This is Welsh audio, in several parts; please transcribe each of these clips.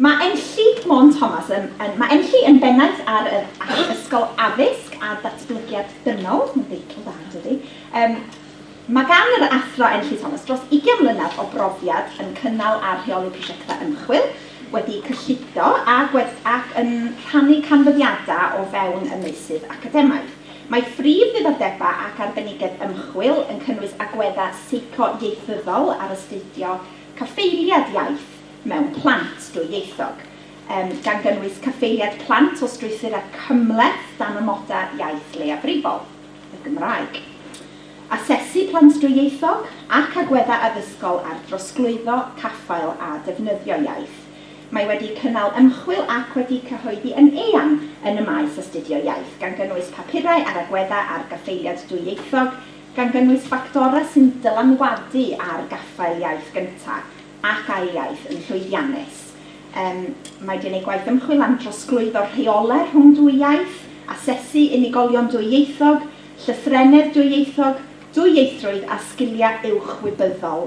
Mae Enlli, come on Thomas, yn Mae Enlli yn bennaeth ar yr Acht Ysgol Addysg a Datblygiad Dynol, mae'n deitl dda yn dydi? Yym Mae gan yr Athro Enlli Thomas dros ugian mlynedd o brofiad yn cynnal a rheoli prosiectau ymchwil, wedi cyllido a gwers ac yn rhannu canfyddiadau o fewn y meysydd academaidd. Mae prif ddiddordebau ac arbenigedd ymchwil yn cynnwys agweddau seico-ieithyddol ar astudio cyfeiliad iaith mewn plant dwyieithog, gan gynnwys cyfeiliad plant o strwythurau cymhleth dan amodau iaith leiafrifol, y Gymraeg. Asesu plant dwyieithog, ac agweddau addysgol ar drosglwyddo, caffael a defnyddio iaith. Mae wedi cynnal ymchwil ac wedi cyhoeddi yn eang yn y maes astudio iaith, gan gynnwys papurau ar agweddau ar gaffaeliad dwyieithog, gan gynnwys ffactorau sy'n dylanwadu ar gaffael iaith gyntaf ac ail iaith yn llwyddiannus. Yym, mae wedi gwneud gwaith ymchwil am drosglwyddo rheolau rhwng dwy iaith, asesu unigolion dwyieithog, llythrennedd dwyieithog, dwyieithrwydd a sgiliau uwch wybyddol.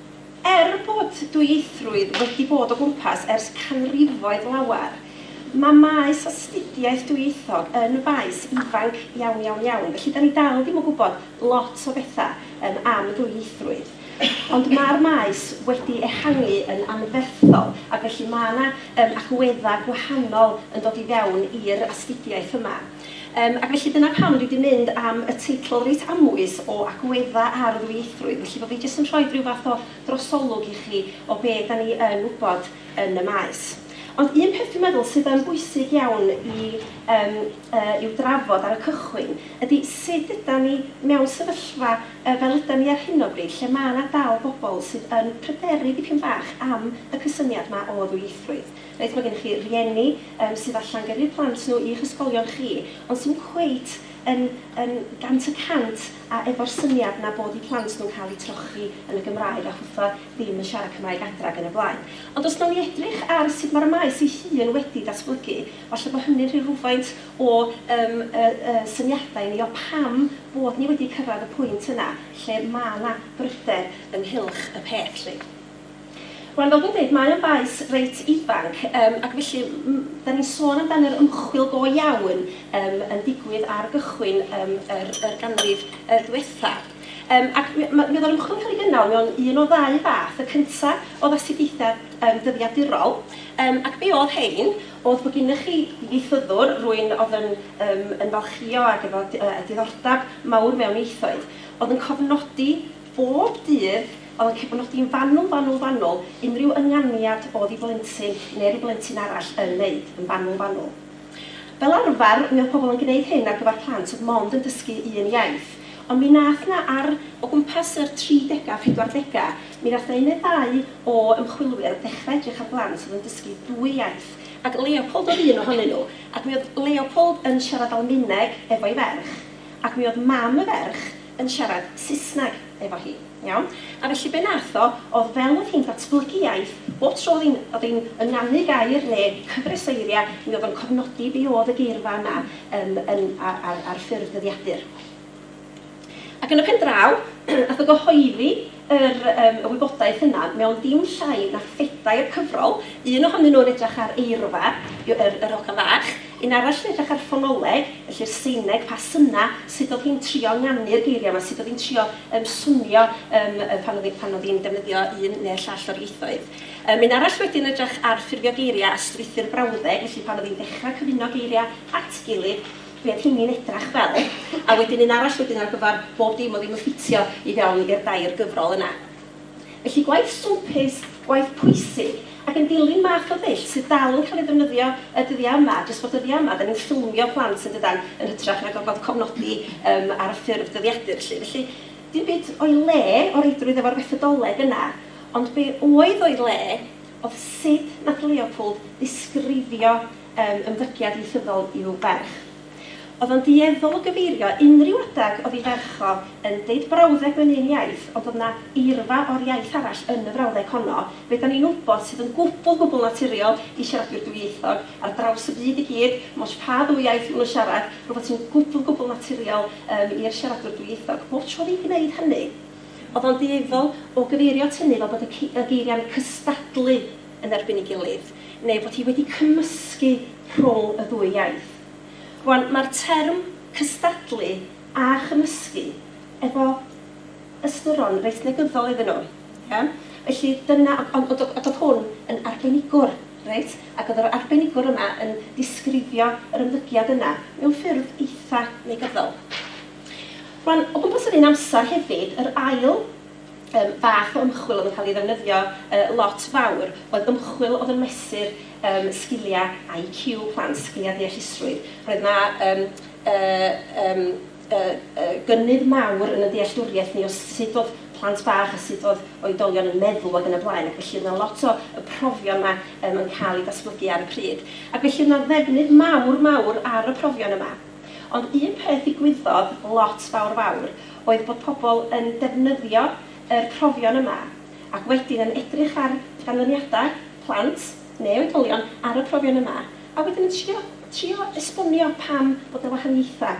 Er bod dwyieithrwydd wedi bod o gwmpas ers canrifoedd lawer, mae maes astudiaeth dwyieithog yn faes ifanc iawn, iawn, iawn, felly da ni dal ddim yn gwybod lot o bethau yym am ddwyieithrwydd. Ond mae'r maes wedi ehangu yn anferthol, ac felly mae 'na yym agweddau gwahanol yn dod i fewn i'r astudiaeth yma. Yym, ac felly dyna pam dwi 'di mynd am y teitl reit amwys o Agwedda' ar Ddwyieithrwydd, felly bo' fi jyst yn rhoid ryw fath o drosolwg i chi o be' 'dan ni yn wybod yn y maes. Ond un peth dwi'n meddwl sydd yn bwysig iawn i yym yy i'w drafod ar y cychwyn ydi sud ydan ni mewn sefyllfa yy fel ydan ni ar hyn o bryd lle ma' 'na dal bobl sydd yn pryderu dipyn bach am y cysyniad 'ma o ddwyieithrwydd. Reit, mae gennych chi rieni yym sydd falle'n gyrru plant nhw i'ch ysgolion chi, ond sydd ddim cweit yn yn gant y cant a efo'r syniad 'na bod eu plant nhw'n cael eu trochi yn y Gymraeg a hwtha ddim yn siarad Cymraeg adra ac yn y blaen. Ond os nawn ni edrych ar sut mae'r maes ei hun wedi datblygu, falle bod hynny'n rhoi rhywfaint o yym y y syniadau i ni o pam bod ni wedi cyrraedd y pwynt yna lle mae 'na bryder ynghylch y peth 'lly. Wel, fel dwi'n dweud, mae o'n faes reit ifanc, yym, ac felly m- m- 'dan ni'n sôn amdan yr ymchwil go iawn yym yn digwydd ar gychwyn yym yr yr ganrif yy ddiwetha'. Yym ac mi ma' mi o'dd yr ymchwil yn cael ei gynnal mewn un o ddau fath, y cynta' o'dd astudiaethau yym dyddiadurol, yym ac be' o'dd 'hein o'dd bo' gynnoch chi ieithyddwr, rwyn o'dd yn yym yn falchio ag efo d- yy diddordab mawr mewn ieithoedd, o'dd yn cofnodi bob dydd Fel y cyfnod yn fanwl, fanwl, fanwl, unrhyw ynganiad o'dd i blentyn ne ryw blentyn arall yn neud, yn fanwl, fanwl. Fel arfar, mi o'dd pobl yn gneud hyn ar gyfar plant o'dd mond yn dysgu un iaith. Ond mi nath 'na ar, o gwmpas yr tri dega, phedwar dega, mi nath 'na un ne ddau o ymchwilwyr ddechra edrych ar blant o'dd yn dysgu dwy iaith, ac Leopold o'dd un ohonyn nhw, ac mi o'dd Leopold yn siarad Almaeneg efo'i ferch, ac mi o'dd mam y ferch, yn siarad Saesneg efo hi, iawn? A felly be nath o odd fel odd hi'n datblygu iaith, bob tro odd hi'n odd hi'n ynganu gair ne' cyfres o eiria', mi odd o'n cofnodi be odd y geirfa yna yym yn ar ar ar ffurf dyddiadur. Ac yn y pen draw nath o gyhoeddi yr yym y wybodaeth yna mewn dim llai na phedair cyfrol, un ohonyn nhw'n edrych ar eirfa, y yr yr hogan fach, un arall yn edrych ar ffonoleg, felly'r Seineg, pa synna, sut oedd hi'n trio ynganu geiriau 'ma, sut oedd hi'n trio yym swnio yym yy pan oedd hi pan oedd hi'n defnyddio un neu'r llall o'r ieithoedd. Yym un arall wedyn edrych ar ffurfio geiriau a strwythur brawddeg, felly pan oedd hi'n dechra cyfuno geiriau at gilydd, Be oedd hynny'n edrach fel? A wedyn un arall wedyn ar gyfer bob dim oedd ddim yn ffitio i fewn i'r dair gyfrol yna. Felly gwaith swmpus, gwaith pwysig, ac yn dilyn math o ddull sydd dal yn cael ei ddefnyddio y dyddiau yma, jyst bod dyddiau yma dan ni'n ffilmio plant yn dydan, yn hytrach na gorfod cofnodi yym ar y ffurf dyddiadur 'lly. Felly dim byd o'i le o reidrwydd efo'r fethodoleg yna, ond be oedd o'i le oedd sut nath Leopold ddisgrifio Yn ymddygiad ieithyddol i'w ferch. Oedd o'n dueddol o gyfeirio unrhyw adeg oedd ei ferch o yn deud brawddeg mewn un iaith ond oedd 'na eirfa o'r iaith arall yn y frawddeg honno, be dan ni'n wybod sydd yn gwbl, gwbl naturiol i siaradwyr dwyieithog ar draws y byd i gyd, ddim ots pa ddwy iaith maen nhw'n siarad, rhywbeth sy'n gwbl, gwbl naturiol yym i'r siaradwr dwyieithog. Bob tro oedd hi'n gwneud hynny oedd o'n dueddol o gyfeirio at hynny fel bod y y geiriau'n cystadlu. yn erbyn ei gilydd, neu bod hi wedi cymysgu rhwng y ddwy iaith. Rwan, mae'r term cystadlu a chymysgu efo ystyron reit negyddol iddyn nhw, ia? Felly, dyna... ond ond ond oedd hwn yn arbenigwr, reit? Ac oedd yr arbenigwr yma yn disgrifio yr ymddygiad yna mewn ffurf eitha negyddol. Rwan, o gwmpas yr un amser hefyd, yr ail Yym, fath o ymchwil oedd yn cael ei ddefnyddio yy lot fawr oedd ymchwil oedd yn mesur yym sgiliau IQ plant, sgiliau deallusrwydd. Roedd yna yym yy yym yy yy gynnydd mawr yn y dealltwriaeth ni o sut oedd plant bach a sut oedd oedolion yn meddwl ac yn y blaen ac felly oedd yna lot o y profion yma yym yn cael eu datblygu ar y pryd. Ac felly oedd yna ddefnydd mawr mawr ar y profion yma. Ond un peth ddigwyddodd lot fawr fawr oedd bod pobl yn defnyddio yr profion yma ac wedyn yn edrych ar ganlyniadau plant neu oedolion ar y profion yma a wedyn yn trio trio esbonio pam bod y wahaniaethau.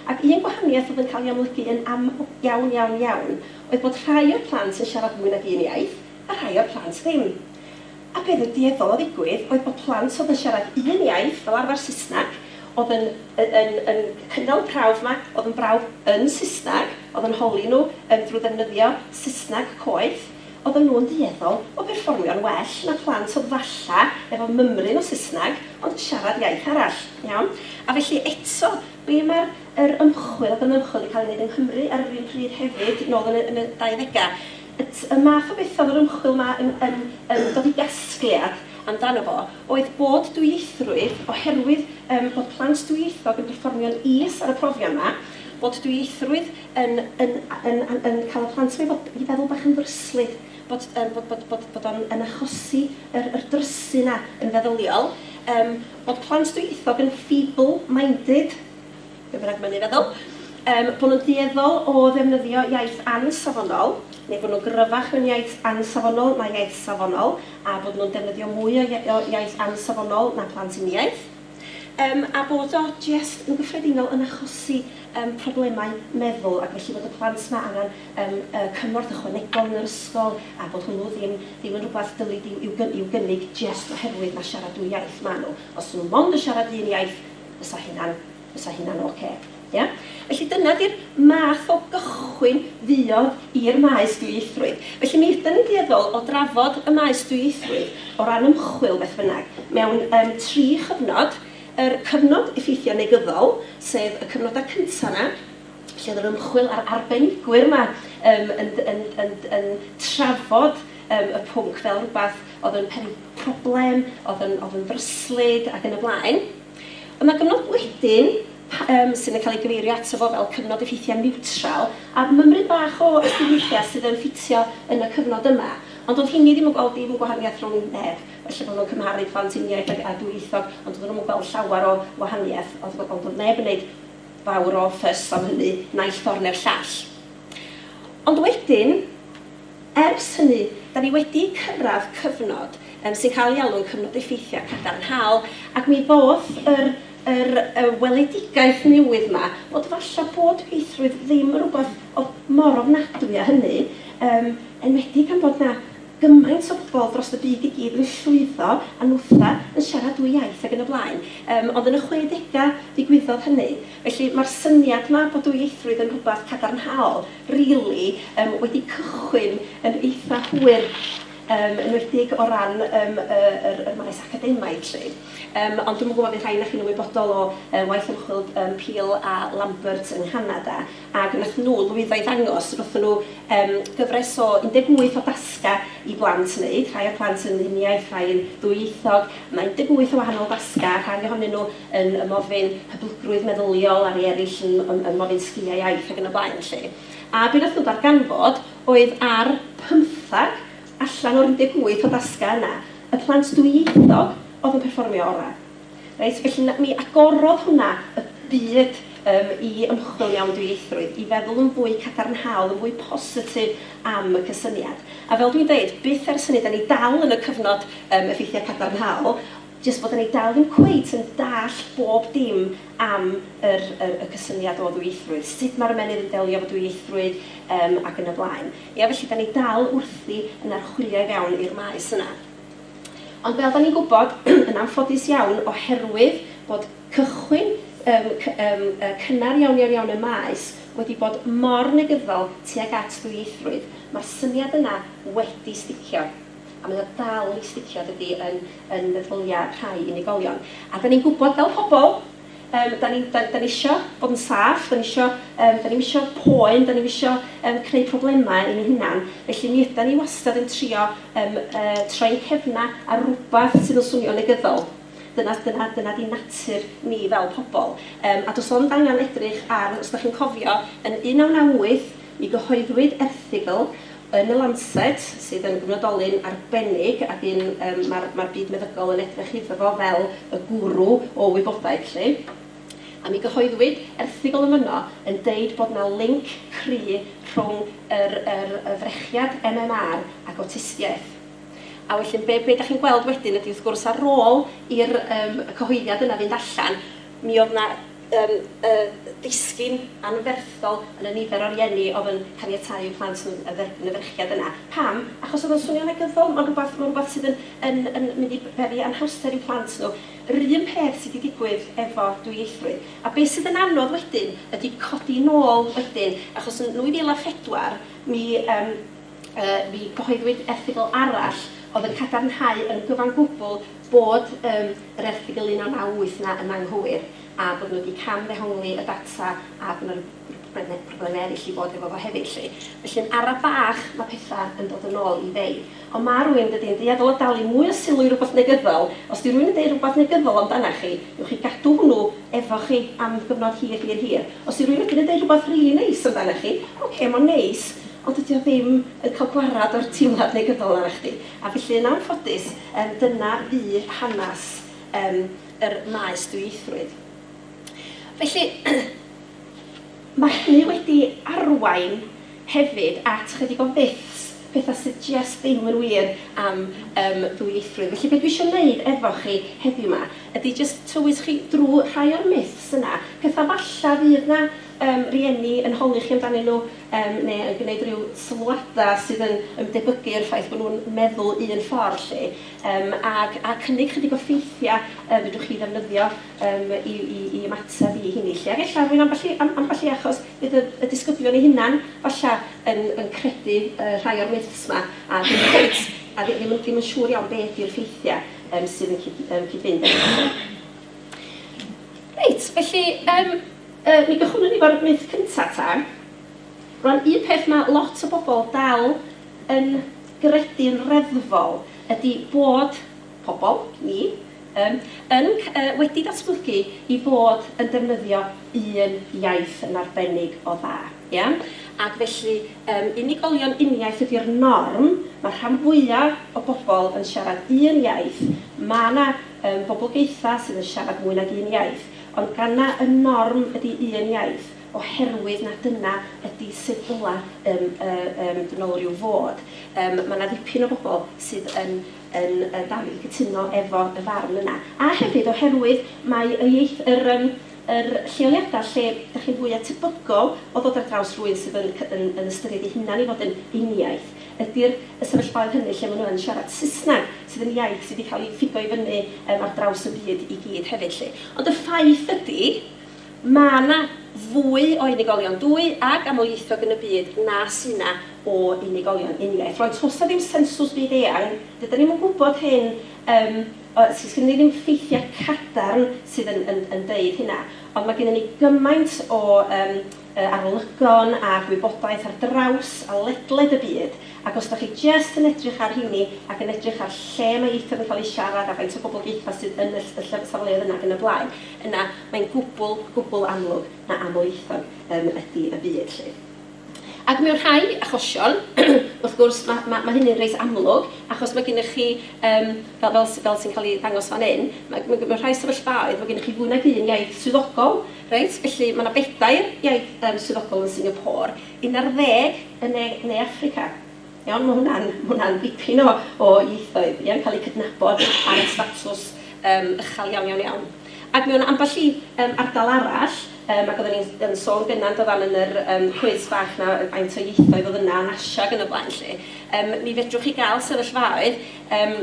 Ac un gwahaniaeth oedd yn cael ei amlygu yn am iawn iawn iawn oedd bod rhai o'r plant yn siarad mwy nag un iaith a rhai o'r plant ddim. A be oedd yn dueddol o ddigwydd oedd bod plant oedd yn siarad un iaith, fel arfer Saesneg, oedd yn yn yn cynnal y prawf yma, oedd yn brawf yn Saesneg, oedd yn holi nhw yym drwy ddefnyddio Saesneg coeth, oedden nhw'n dueddol o berfformio'n well na phlant oedd falle efo mymryn o Saesneg ond yn siarad iaith arall, iawn? A felly eto, be mae'r yr ymchwil, oedd yn ymchwil wedi cael ei wneud yng Nghymru ar yr un pryd hefyd, nôl yn y yn y 20au, At y math o beth oedd yr ymchwil yma yn yn yn dod i gasgliad amdano fo oedd bod dwyieithrwydd, oherwydd yym bod plant dwyieithog yn perfformio'n is ar y profion yma, bod dwyieithrwydd yn yn yn yn yn cael y plant yma i fod i feddwl bach yn ddryslyd, bod yym bod bod bod bod o'n yn achosi yr yr drysu yna yn feddyliol, yym bod plant dwyieithog yn feeble minded. be bynnag mae'n ei feddwl, yym, bod nhw'n dueddol o ddefnyddio iaith ansafonol, neu bod nhw'n gryfach mewn iaith ansafonol na iaith safonol, a bod nhw'n defnyddio mwy o iaith ansafonol na plant uniaith, um, a bod o jest yn gyffredinol yn achosi um, problemau meddwl, ac felly bod y plant yma angen um, uh, cymorth ychwanegol yn yr ysgol, a bod hwnnw ddim, ddim yn rhywbeth dylid i'w, i'w, i'w gynnig jest oherwydd na siarad dwy iaith maen nhw. Os nhw mond yn siarad un iaith, fysa hynna'n, fysa hynna'n ocê. Ia? Felly dyna 'di'r math o gychwyn fuodd i'r maes dwyieithrwydd. Felly mi ydan ni'n dueddol o drafod y maes dwyieithrwydd o ran ymchwil beth bynnag mewn yym tri chyfnod, yr cyfnod effeithio negyddol, sef y cyfnodau cynta' 'na, lle o'dd yr ymchwil a'r arbenigwyr 'ma yym yn yn yn yn trafod yym y pwnc fel rwbath oedd yn pen- problem, oedd yn oedd yn ddryslyd ac yn y blaen. Ond mae gyfnod wedyn, pa- yym, sydd yn cael ei gyfeirio ato fo fel cyfnod effeithiau niwtral, a mymryn bach o astudiaethau sydd yn ffitio yn y cyfnod yma. Ond doedd rheiny ddim yn gweld dim gwahaniaeth rhwng neb. Falle bod nhw'n cymharu plant uniaith ag a dwyieithog, ond doedden nhw'm yn gweld llawer o wahaniaeth. Oedd ond doedd neb yn wneud fawr o fuss am hynny, naill ffordd neu'r llall. Ond wedyn, Ers hynny, da ni wedi cyrraedd cyfnod yym sy'n cael ei alw'n cyfnod effeithiau cadarnhaol, ac mi ddoth yr yr y weledigaeth newydd 'ma, bod falle bod pieithrwydd ddim yn rhywbeth o'dd mor ofnadwy â hynny, yym enwedig gan bod 'na gymaint o bobl drost y byd i gyd yn llwyddo a nwtha, yn siarad dwy iaith ac yn y blaen. Yym ond yn y chwedegau ddigwyddodd hynny. Felly, mae'r syniad 'ma bod dwyieithrwydd yn rhywbeth cadarnhaol, rili yym wedi cychwyn yn eitha' hwyr yym enwedig o ran yym y yr yr maes academaidd 'lly. Yym ond dwi'm yn gwybod fydd rhai o'na chi'n ymwybodol o yy waith ymchwil yym Peel a Lambert yng Nghanada ac wnaethon nhw lwyddo i ddangos wnaethon nhw yym gyfres o 18 o dasgau i blant wneud, rhai o'r plant yn uniaith, rhai yn ddwyieithog, mae 18 o wahanol dasgau, rhai ohonyn nhw yn ymofyn hyblygrwydd meddyliol a rhai eraill yn ymofyn sgiliau iaith ac yn y blaen felly. A be wnaethon nhw ddarganfod oedd ar pymtheg allan o'r 18 o dasgau yna, y plant dwyieithog oedd yn perfformio orau. Reit, felly mi agorodd hwnna y byd yym i ymchwil mewn dwyieithrwydd, i feddwl yn fwy cadarnhaol, yn fwy positif am y cysyniad. A fel dwi'n deud, byth ers hynny, 'da ni dal yn y cyfnod yym effeithiau cadarnhaol, Jyst bod yn ei dal ddim cweit yn dallt bob dim am yr yr y cysyniad o ddwyieithrwydd, sut mae'r ymennydd yn delio efo dwyieithrwydd yym ac yn y blaen. Ia? Felly dan ni dal wrthi yn archwilio i fewn i'r maes yna. Ond fel dan ni'n gwybod, yn anffodus iawn, oherwydd bod cychwyn yym cy- yym yy cynnar iawn iawn iawn y maes wedi bod mor negyddol tuag at ddwyieithrwydd, mae'r syniad yna wedi sticio. A mae o dal i sticio dydi yn yn meddylia rhai unigolion. A dan ni'n gwybod fel pobl yym dan ni'n dan dan ni isio bod yn saff, dan ni isio yym dan ni'm isio poen, dan ni'm isio yym creu problemau i ni hunan, felly mi ydan ni wastad yn trio yym yy troi'n cefna ar rywbeth sydd yn swnio'n negyddol. Dyna dyna dyna di natur ni fel pobl. Yym a does ond angen edrych ar, os dach chi'n cofio, yn 1998 mi gyhoeddwyd erthygl Yn y Lancet, sydd yn gyfnodolyn arbennig ac un yym mae'r mae'r byd meddygol yn edrych iddo fo fel y gwrw o wybodaeth 'lly, a mi gyhoeddwyd erthygl yn fanno yn deud bod 'na linc cry' rhwng yr yr y frechiad MMR ac awtistiaeth. A felly be be dach chi'n gweld wedyn ydi wrth gwrs ar ôl i'r yym y cyhoeddiad yna fynd allan mi oedd 'na yn y disgyn anferthol yn y nifer o rieni oedd yn caniatáu i'w plant nhw dderbyn y frechiad yna. Pam? Achos oedd o'n swnio'n negyddol, mae'n rhywbeth, mae'n rhywbeth sydd yn, yn, yn mynd i beri anhawster i'w plant nhw. Yr un peth sydd 'di digwydd efo dwyieithrwydd. A be' sydd yn anodd wedyn ydi codi nôl wedyn, achos yn 2004 mi, yym, yy, mi gyhoeddwyd erthygl arall oedd yn cadarnhau yn gyfan gwbl bod yr erthygl 1998 'na yn anghywir a bod nhw wedi cam-ddehongli y data a bod 'na ryw brobleme- problemau eraill i fod hefo fo hefyd 'lly. Felly yn ara' bach ma' petha' yn dod yn ôl i fei. Ond ma' rywun, yn dydi, yn dueddol o dalu mwy o sylw i rywbeth negyddol. Os 'di rywun yn deud rywbeth negyddol amdanach chi, newch chi gadw hwnnw efo chi am gyfnod hir hir hir. Os 'di rywun wedyn yn deud rywbeth rili neis amdanach chi, ocê, mo'n neis, ond dydi o ddim yn cael gwarad o'r teimlad negyddol 'na arna chdi. A felly, yn anffodus, yym, dyna fu hanes, yym, yr maes dwyieithrwydd. Felly, ma' hynny wedi arwain hefyd at 'chydig o fyths, petha sy jest ddim yn wir am, yym, ddwyieithrwydd. Felly, be' dwi isio neud efo chi heddiw 'ma ydi jyst tywys chi drw rhai o'r myths yna, petha falla fydd 'na yym, rieni yn holi chi amdanyn nhw, yym, neu yn gwneud rhyw sylwadau sydd yn yn debygu i'r ffaith bod nhw'n meddwl un ffordd 'lly, yym, ac a cynnig chydig o ffeithiau yym fedrwch chi ddefnyddio yym i i i ymateb i hynny 'lly. Ac ella rwy'n ambell i am- ambell i achos bydd y y disgyblion eu hunain falle yn yn credu yy rhai o'r myths 'ma a ddim cweit a ddi- ddim yn ddim yn siŵr iawn be ydy'r ffeithiau yym sydd yn cyd- yym cyd-fynd efo nhw 'lly. Reit, felly yym yy mi gychwynnwn ni fo'r myth cynta' ta. Rwan, un peth ma' lot o bobl dal yn gredu'n reddfol ydi bod pobl, ni, yym yn c- yy wedi datblygu i fod yn defnyddio un iaith yn arbennig o dda, ia? Ac felly yym unigolion uniaith ydi'r norm, ma'r rhan fwya' o bobl yn siarad un iaith, ma' 'na Ym mhoblogaethau sydd yn siarad mwy nag un iaith, ond gan na y norm ydy un iaith, oherwydd na dyna ydy sut ddyla ym ym dynolryw fod, ym mae na ddipyn o bobl sydd yn yn yn dal i gytuno efo y farn yna. A hefyd oherwydd mae y ieith-, yr ym yr lleoliadau lle dach chi'n fwya tebygol o ddod ar draws rhywun sydd yn yn yn ystyried ei hunan i fod yn uniaith, ydy'r y sefyllfaoedd hynny lle maen nhw yn siarad Saesneg, sydd yn iaith sydd wedi cael ei ffigo i fyny yym ar draws y byd i gyd hefyd 'lly. Ond y ffaith ydy, ma' 'na fwy o unigolion dwy ag amlieithog yn y byd na sy' 'na o unigolion uniaith. Rŵan, toes 'na ddim sensws byd-eang, dydan ni'm yn gwybod hyn yym o s- sgynnon ni ddim ffeithiau cadarn sydd yn yn yn deud hynna, ond ma' gynnon ni gymaint o yym y arolygon a gwybodaeth ar draws a ledled y byd, ac os dach chi jest yn edrych ar rheini ac yn edrych ar lle mae ieithoedd yn cael eu siarad a faint o boblogaethau sydd yn y y ll- safleoedd yna ac yn y blaen, yna mae'n gwbl, gwbl amlwg na amlieithog yym ydi y byd 'lly. Ac mewn rhai achosion, wrth gwrs, ma' ma' ma' hynny'n reit amlwg, achos ma' gennych chi yym fel fel s- fel sy'n cael ei ddangos fan hyn, ma' ma' mewn rhai sefyllfaoedd, ma' gennych chi fwy nag un iaith swyddogol, Reit, felly mae 'na bedair iaith yym swyddogol yn Singapore, un ar ddeg yn ne ne Affrica. Iawn, mae hwnna'n ma' hwnna'n dipyn o o ieithoedd, ia, yn cael eu cydnabod ar y statws yym uchel iawn, iawn, iawn. Ac mewn ambell i yym ardal arall, yym ac oedden ni'n yn sôn gynna' yn dydan yn yr yym cwis bach 'na yy faint o ieithoedd oedd yna yn Asia ac yn y blaen 'lly, yym mi fedrwch chi gael sefyllfaoedd yym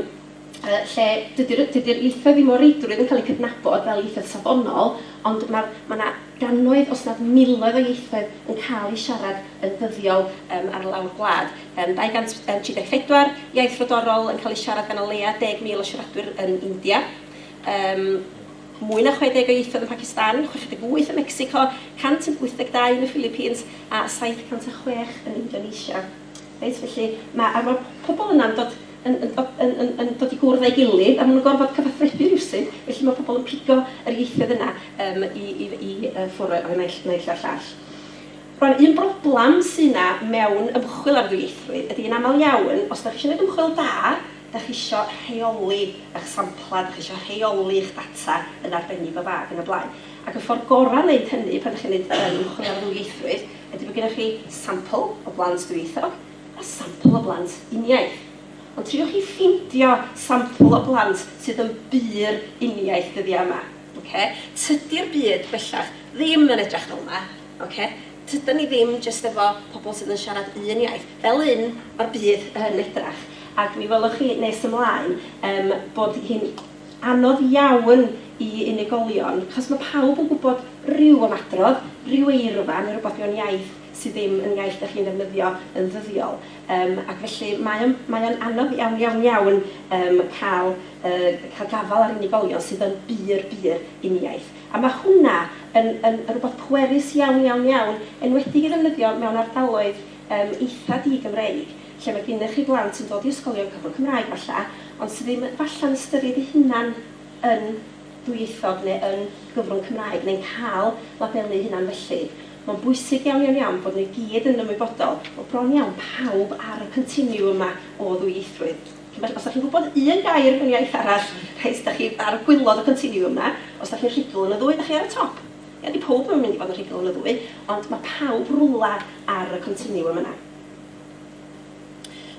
yy lle dydy'r yy dydy'r ieithoedd ddim o reidrwydd yn cael eu cydnabod fel ieithoedd safonol, ond ma'r ma' 'na gannoedd os nad miloedd o ieithoedd yn cael eu siarad yn ddyddiol yym ar lawr gwlad. Yym 234 iaith frodorol yn cael eu siarad gan o leia' 10,000 o siaradwyr yn India, yym mwy na 60 o ieithoedd yn Pacistan, 68 ym Mecsico, 182 yn y Philippines a 706 yn Indonesia. Reit, felly ma'... a ma'r pobl yna'n dod yn yn dod yn yn yn dod i gwrdd â'i gilydd, a ma' nhw'n gorfod cyfathrebu rywsut, felly ma' pobl yn pigo yr ieithoedd yna yym i i f- i yy ffwr' o o naill naill a'r llall. Rŵan, un broblam sy' 'na mewn ymchwil ar ddwyieithrwydd ydy, yn aml iawn, os dach chi isio neud ymchwil da, dach chi isio rheoli 'ych sampla, dach chi isio rheoli 'ych data yn arbennig o dda ac yn y blaen. Ac y ffor gora' o neud hynny pan dach chi'n neud yym ymchwil ar ddwyieithrwydd, Ydy, mae gennych chi sampl o blant dwyieithog a sampl o blant uniaith. Ond triwch chi ffeindio sampl o blant sydd yn bur uniaith dyddiau yma. Ocê? Tydi'r byd bellach ddim yn edrych fel yma. Ocê? Tydan ni ddim jyst efo pobl sydd yn siarad un iaith. Fel un, mae'r byd yn edrych. Ac mi welwch chi nes ymlaen yym bod hi'n anodd iawn i unigolion, achos mae pawb yn gwybod rhyw ymadrodd, rhyw eirfa neu rywbeth mewn iaith sydd ddim yn iaith dach chi'n ddefnyddio yn ddyddiol. Yym ac felly mae o'n mae o'n anodd iawn iawn iawn yym cael yy cael gafael ar unigolion sydd yn bur bur uniaith. A mae hwnna yn yn yn rywbeth pwerus iawn iawn iawn, enwedig i ddefnyddio mewn ardaloedd yym eitha' di-Gymreig. lle mae gennych chi blant yn dod i ysgolion cyfrwng Cymraeg falle, ond sydd ddim falle'n ystyried eu hunain yn ddwyieithog neu yn gyfrwng Cymraeg, neu'n cael labelu eu hunain felly. Mae'n bwysig iawn, iawn, iawn bod nhw i gyd yn ymwybodol bod bron iawn pawb ar y continiwm yma o ddwyieithrwydd. Felly, os dach chi'n gwybod un gair mewn iaith arall, reit, dach chi ar gwilod y continiwm 'na. Os dach chi'n rhugl yn y ddwy, dach chi ar y top. Ia, 'di pawb ddim yn mynd i fod yn rhugl yn y ddwy, ond mae pawb rywle ar y continiwm yna.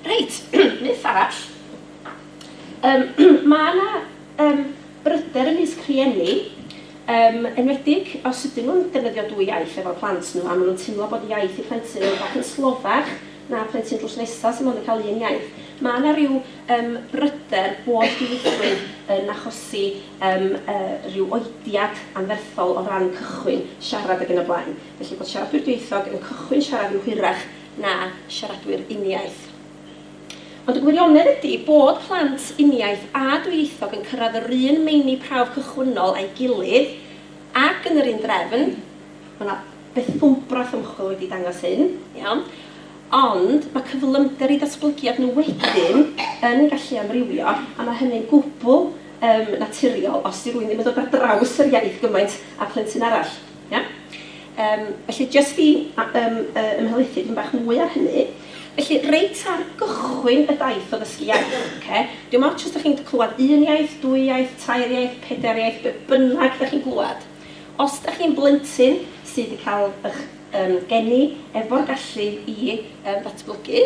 Reit, myth arall. Um, mae yna um, bryder ymysg rhieni, um, enwedig os ydyn nhw'n defnyddio dwy iaith efo'r plant nhw, a maen nhw'n teimlo bod iaith y plentyn yn bach yn slofach na plentyn drws nesaf sy'n mond yn cael un iaith. Mae yna rhyw um, bryder bod dieithrwydd yn achosi um, uh, rhyw oediad anferthol o ran cychwyn siarad ag yn y blaen. Felly bod siaradwyr dieithog yn cychwyn siarad yn hwyrach na siaradwyr uniaith. Ond y gwirionedd ydi bod plant uniaith a dwyieithog yn cyrraedd yr un meini prawf cychwynnol â'i gilydd ac yn yr un drefn, mae yna bethwmbrath ymchwil wedi dangos hyn, iawn, ond mae cyflymder eu datblygiad nhw wedyn yn gallu amrywio a mae hynny'n gwbl yym naturiol os 'di rywun ddim yn dod ar draws yr iaith gymaint â phlentyn arall. Ia? Yym, felly, jyst i yym ymhelaethu dipyn bach mwy ar hynny, felly, reit ar gychwyn y daith o ddysgu iaith, ocê, dim ots os dych chi'n clywed un iaith, dwy iaith, tair iaith, pedair iaith, be bynnag dych chi'n glywed, os dych chi'n blentyn sydd wedi cael eich geni efo'r gallu i ddatblygu,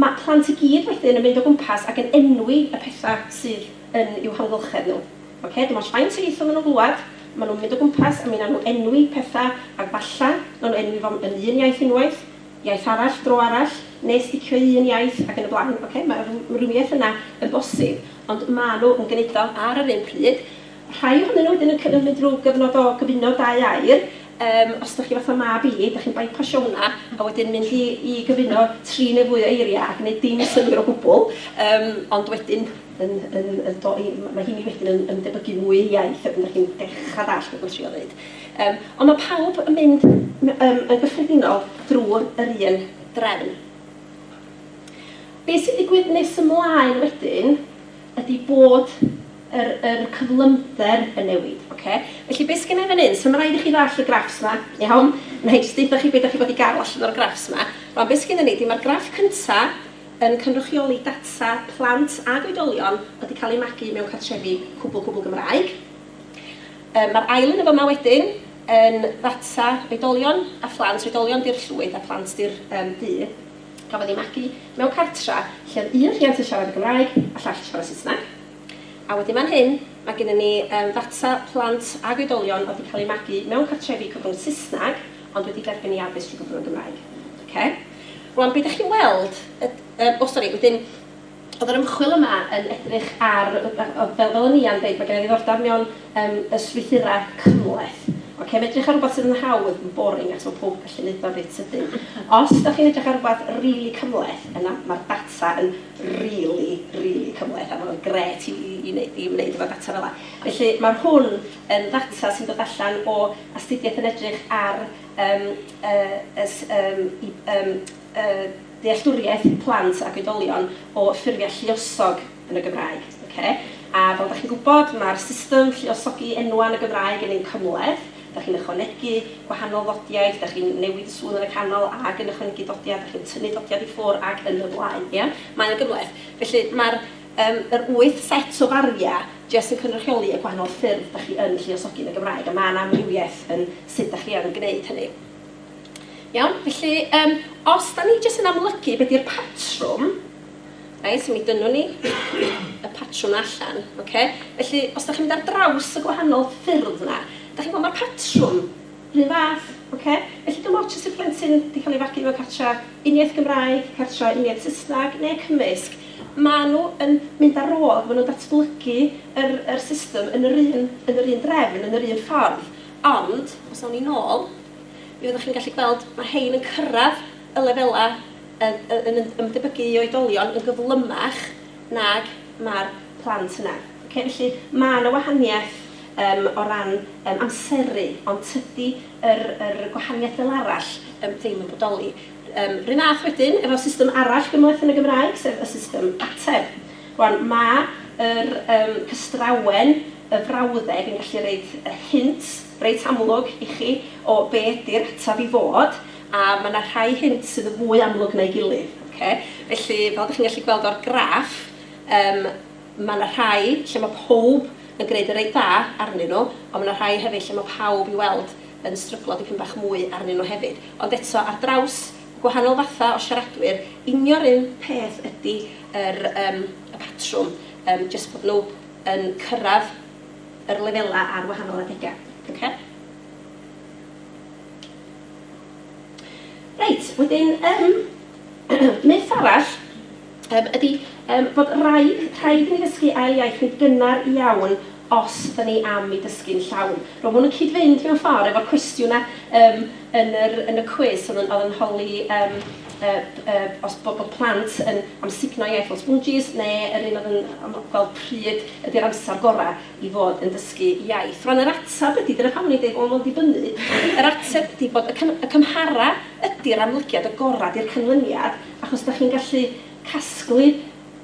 Mae plant i gyd wedyn yn mynd o gwmpas ac yn enwi y pethau sydd yn i'w hamgylchedd nhw. Ocê, dim ots faint o ieithoedd maen nhw'n glywed, maen nhw'n mynd o gwmpas a mi wnawn nhw enwi pethau ac falle wnawn nhw enwi fo yn un iaith unwaith, iaith arall, dro arall, neu sticio i un iaith ac yn y blaen. Ocê, mae'r ymrwymiaeth yna yn bosib, ond maen nhw yn gwneud o ar yr un pryd. Rhai ohonyn nhw wedyn yn cyfyngu drwy gyfnod o gyfuno dau air. Yym, os ydych chi fatha mab i, ydych chi'n baipasio hwnna a wedyn mynd i i gyfuno tri neu fwy o eiriau a gwneud dim synnwyr o gwbl. Yym, ond wedyn yn yn yn do- i- mae heini wedyn yn yn debygu mwy i iaith a wedyn dych chi'n dechrau dallt be dwi'n trio ddeud. Yym, ond mae pawb yn mynd m- yym yn gyffredinol drwy yr un drefn. Be sy'n digwydd nes ymlaen wedyn ydy bod yr yr cyflymder yn newid. Ocê? Felly be' sgennai fan 'yn, so ma' raid i chi ddall' y graffs 'ma, iawn? Nâi jyst deutha chi be' 'dach chi fod i ga'l allan o'r graffs 'ma. Rŵan be' sgennon ni 'di ma'r graff cynta yn cynrychioli data plant ag oedolion o'dd 'di ca'l eu magu mewn cartrefi cwbwl cwbwl Gymraeg. Yym ma'r ail un yn fyma wedyn yn ddata oedolion a phlant, oedolion 'di'r llwyth a phlant 'di'r yym du, gafodd eu magu mewn cartra lle o'dd un rhiant yn siarad y Gymraeg a llall yn siarad Saesneg. A wedyn fan hyn, mae gennym ni yym ddata plant ac oedolion oedd wedi cael eu magu mewn cartrefi cyfrwng Saesneg ond wedi derbyn eu addysg trwy gyfrwng y Gymraeg. Ocê? Rŵan, be dach chi'n weld yd- yym, o sori, wedyn, oedd yr ymchwil yma yn edrych ar, yy, yy, fel, fel o'n i am ddeud, mae gen i ddiddordeb mewn yym y strwythurau cymhleth. Ocê, mae'n edrych ar rywbeth sydd yn hawdd, yn boring, achos mae pawb yn gallu wneud o reit sydyn. Os dach chi'n edrych ar rywbeth rili cymhleth, yna mae'r data yn rili, rili cymhleth a ma' fe'n grêt i i i neu- i wneud efo data fela. Felly ma' hwn yn ddata sy'n dod allan o astudiaeth yn edrych ar yym y y s- yym i yym y dealltwriaeth plant ac oedolion o ffurfiau lluosog yn y Gymraeg, ocê? A fel dach chi'n gwybod, ma'r system lluosogi enwau yn y Gymraeg yn un cymhleth, Dach chi'n ychwanegu gwahanol ddodiau, dach chi'n newid y sŵn yn y canol ac yn ychwanegu dodiau, dach chi'n tynnu dodiad i ffwr' ac yn y blaen, ia? Mae o'n gymhleth. Felly, mae'r, yym, yr wyth set o fariau jyst yn cynrychioli y gwahanol ffyrdd dach chi yn lluosogi yn y Gymraeg, a mae 'na amrywiaeth yn sut dach chi yn gwneud hynny. Iawn? Felly, yym, os 'dan ni jyst yn amlygu be' 'di'r patrwm, Reit, so mi dynnwn ni y patrwm allan, oce? Felly, os da chi'n mynd ar draws y gwahanol ffyrdd yna, da chi'n gweld mae'r patrwm rhyw fath, oce? Felly, dim ots os yw'r plentyn wedi cael ei fagu mewn cartra uniaith Gymraeg, cartra uniaith Saesneg neu cymysg, maen nhw yn mynd ar ôl, maen nhw'n datblygu yr, yr system yn yr un, yn yr un drefn, yn yr un ffordd. Ond, os awn ni'n ôl, mi fyddwch chi'n gallu gweld, mae rhain yn cyrraedd y lefelau yn ymdebygu i oedolion yn gyflymach nag mae'r plant yna. Ocê, felly mae 'na wahaniaeth yym o ran yym amseru, ond tydi yr yr gwahaniaeth fel arall yym ddim yn bodoli. Yym, 'run fath wedyn efo system arall gymhleth yn y Gymraeg, sef y system ateb. Rŵan, mae yr yym cystrawen, y frawddeg yn gallu roid y hint, reit amlwg i chi o be ydy'r ateb i fod, a mae yna rhai hynt sydd yn fwy amlwg na'i gilydd. Ocê? Felly, fel dych chi'n gallu gweld o'r graff, yym, mae yna rhai lle mae pawb yn gwneud yn reit dda arnyn nhw, ond mae yna rhai hefyd lle mae pawb i'w weld yn stryglo dipyn bach mwy arnyn nhw hefyd. Ond eto, ar draws y gwahanol fathau o siaradwyr, union 'r un peth ydy yr, yym, y patrwm, yym, jyst bod nhw yn cyrraedd yr lefelau ar wahanol adegau. Oce? Reit, wedyn, um, myth arall um, ydy um, bod rhaid, rhaid i ni ddysgu ail iaith yn gynnar iawn os da ni am i dysgu'n llawn. Rwy'n hwn yn cyd-fynd mewn ffordd efo'r cwestiwn a um, yn yr yn y cwis o'dd yn o'dd yn holi yym yy yy os bo' bo' plant yn amsugno iaith fel sbwnjis ne' yr un o'dd yn am gweld pryd ydi'r amsar gora' i fod yn dysgu iaith. Rwan yr atab ydi, dyna pam o'n i'n deud bo' fo'n dibynnu, yr ateb ydi bod y cym- y cymhara ydi'r amlygiad y gora' di'r cynlyniad achos 'dach chi'n gallu casglu